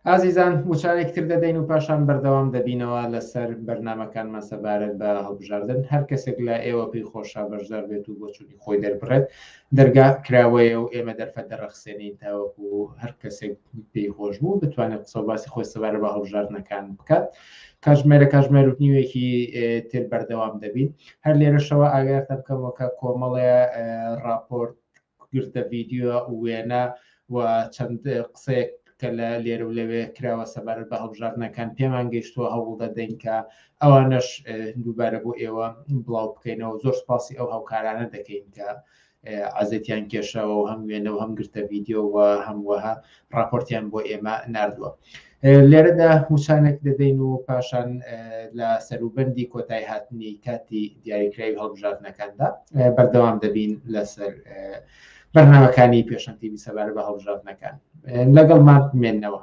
ئازیزان وچارێک تر دەدەین و پاشان بەردەوام دەبینەوە لەسەر بەرنمەکانمان سەبارەت بە هەڵبژاردن هەر کەسێک لە ئێوە پێی خۆشە بەشدار بێت و بۆچووی خۆی دەربڕێت دەرگا کراوەیە و ئێمە دەرفەت دەڕەخسێنین تاوەکو هەر کەسێک پێی خۆش بوو بتوانێت قسە باسی خۆی سەبارە بە هەڵبژاردنەکان بکات کاژمێرە کاژمێر و نیوێکی تر بەردەوام دەبین هەر لێرەشەوە ئاگاتە بکەمەوە کە کۆمەڵێ راپۆرت گرتە ڤیدیۆ وێنە و چەند قسەیەک کە لە لێرە و لەوێ کراوە سەبارەت بە هەڵبژاردنەکان پێمان گەیشتووە هەوڵ دەدەین کە ئەوانەش دووبارە بۆ ئێوە بڵاو بکەینەوە زۆر سپاسی ئەو هاوکارانە دەکەین کە عزتیان کێشەوە و هەم وێنە و هەم گرتە ڤیددیو و هەموەها ڕاپۆرتیان بۆ ئێمە نردووە لێرەدا هوچانێک دەدەین و پاشان لە سەروبەندی کۆتای هاتنی کاتی دیاریکراوی هەڵبژاردنەکاندا بەردەوام دەبین لەسەر بەرنامەکانی پێشەنتیبی سەبارە بە هەڵبژاردنەکان لەگەڵ مات مێنەوە.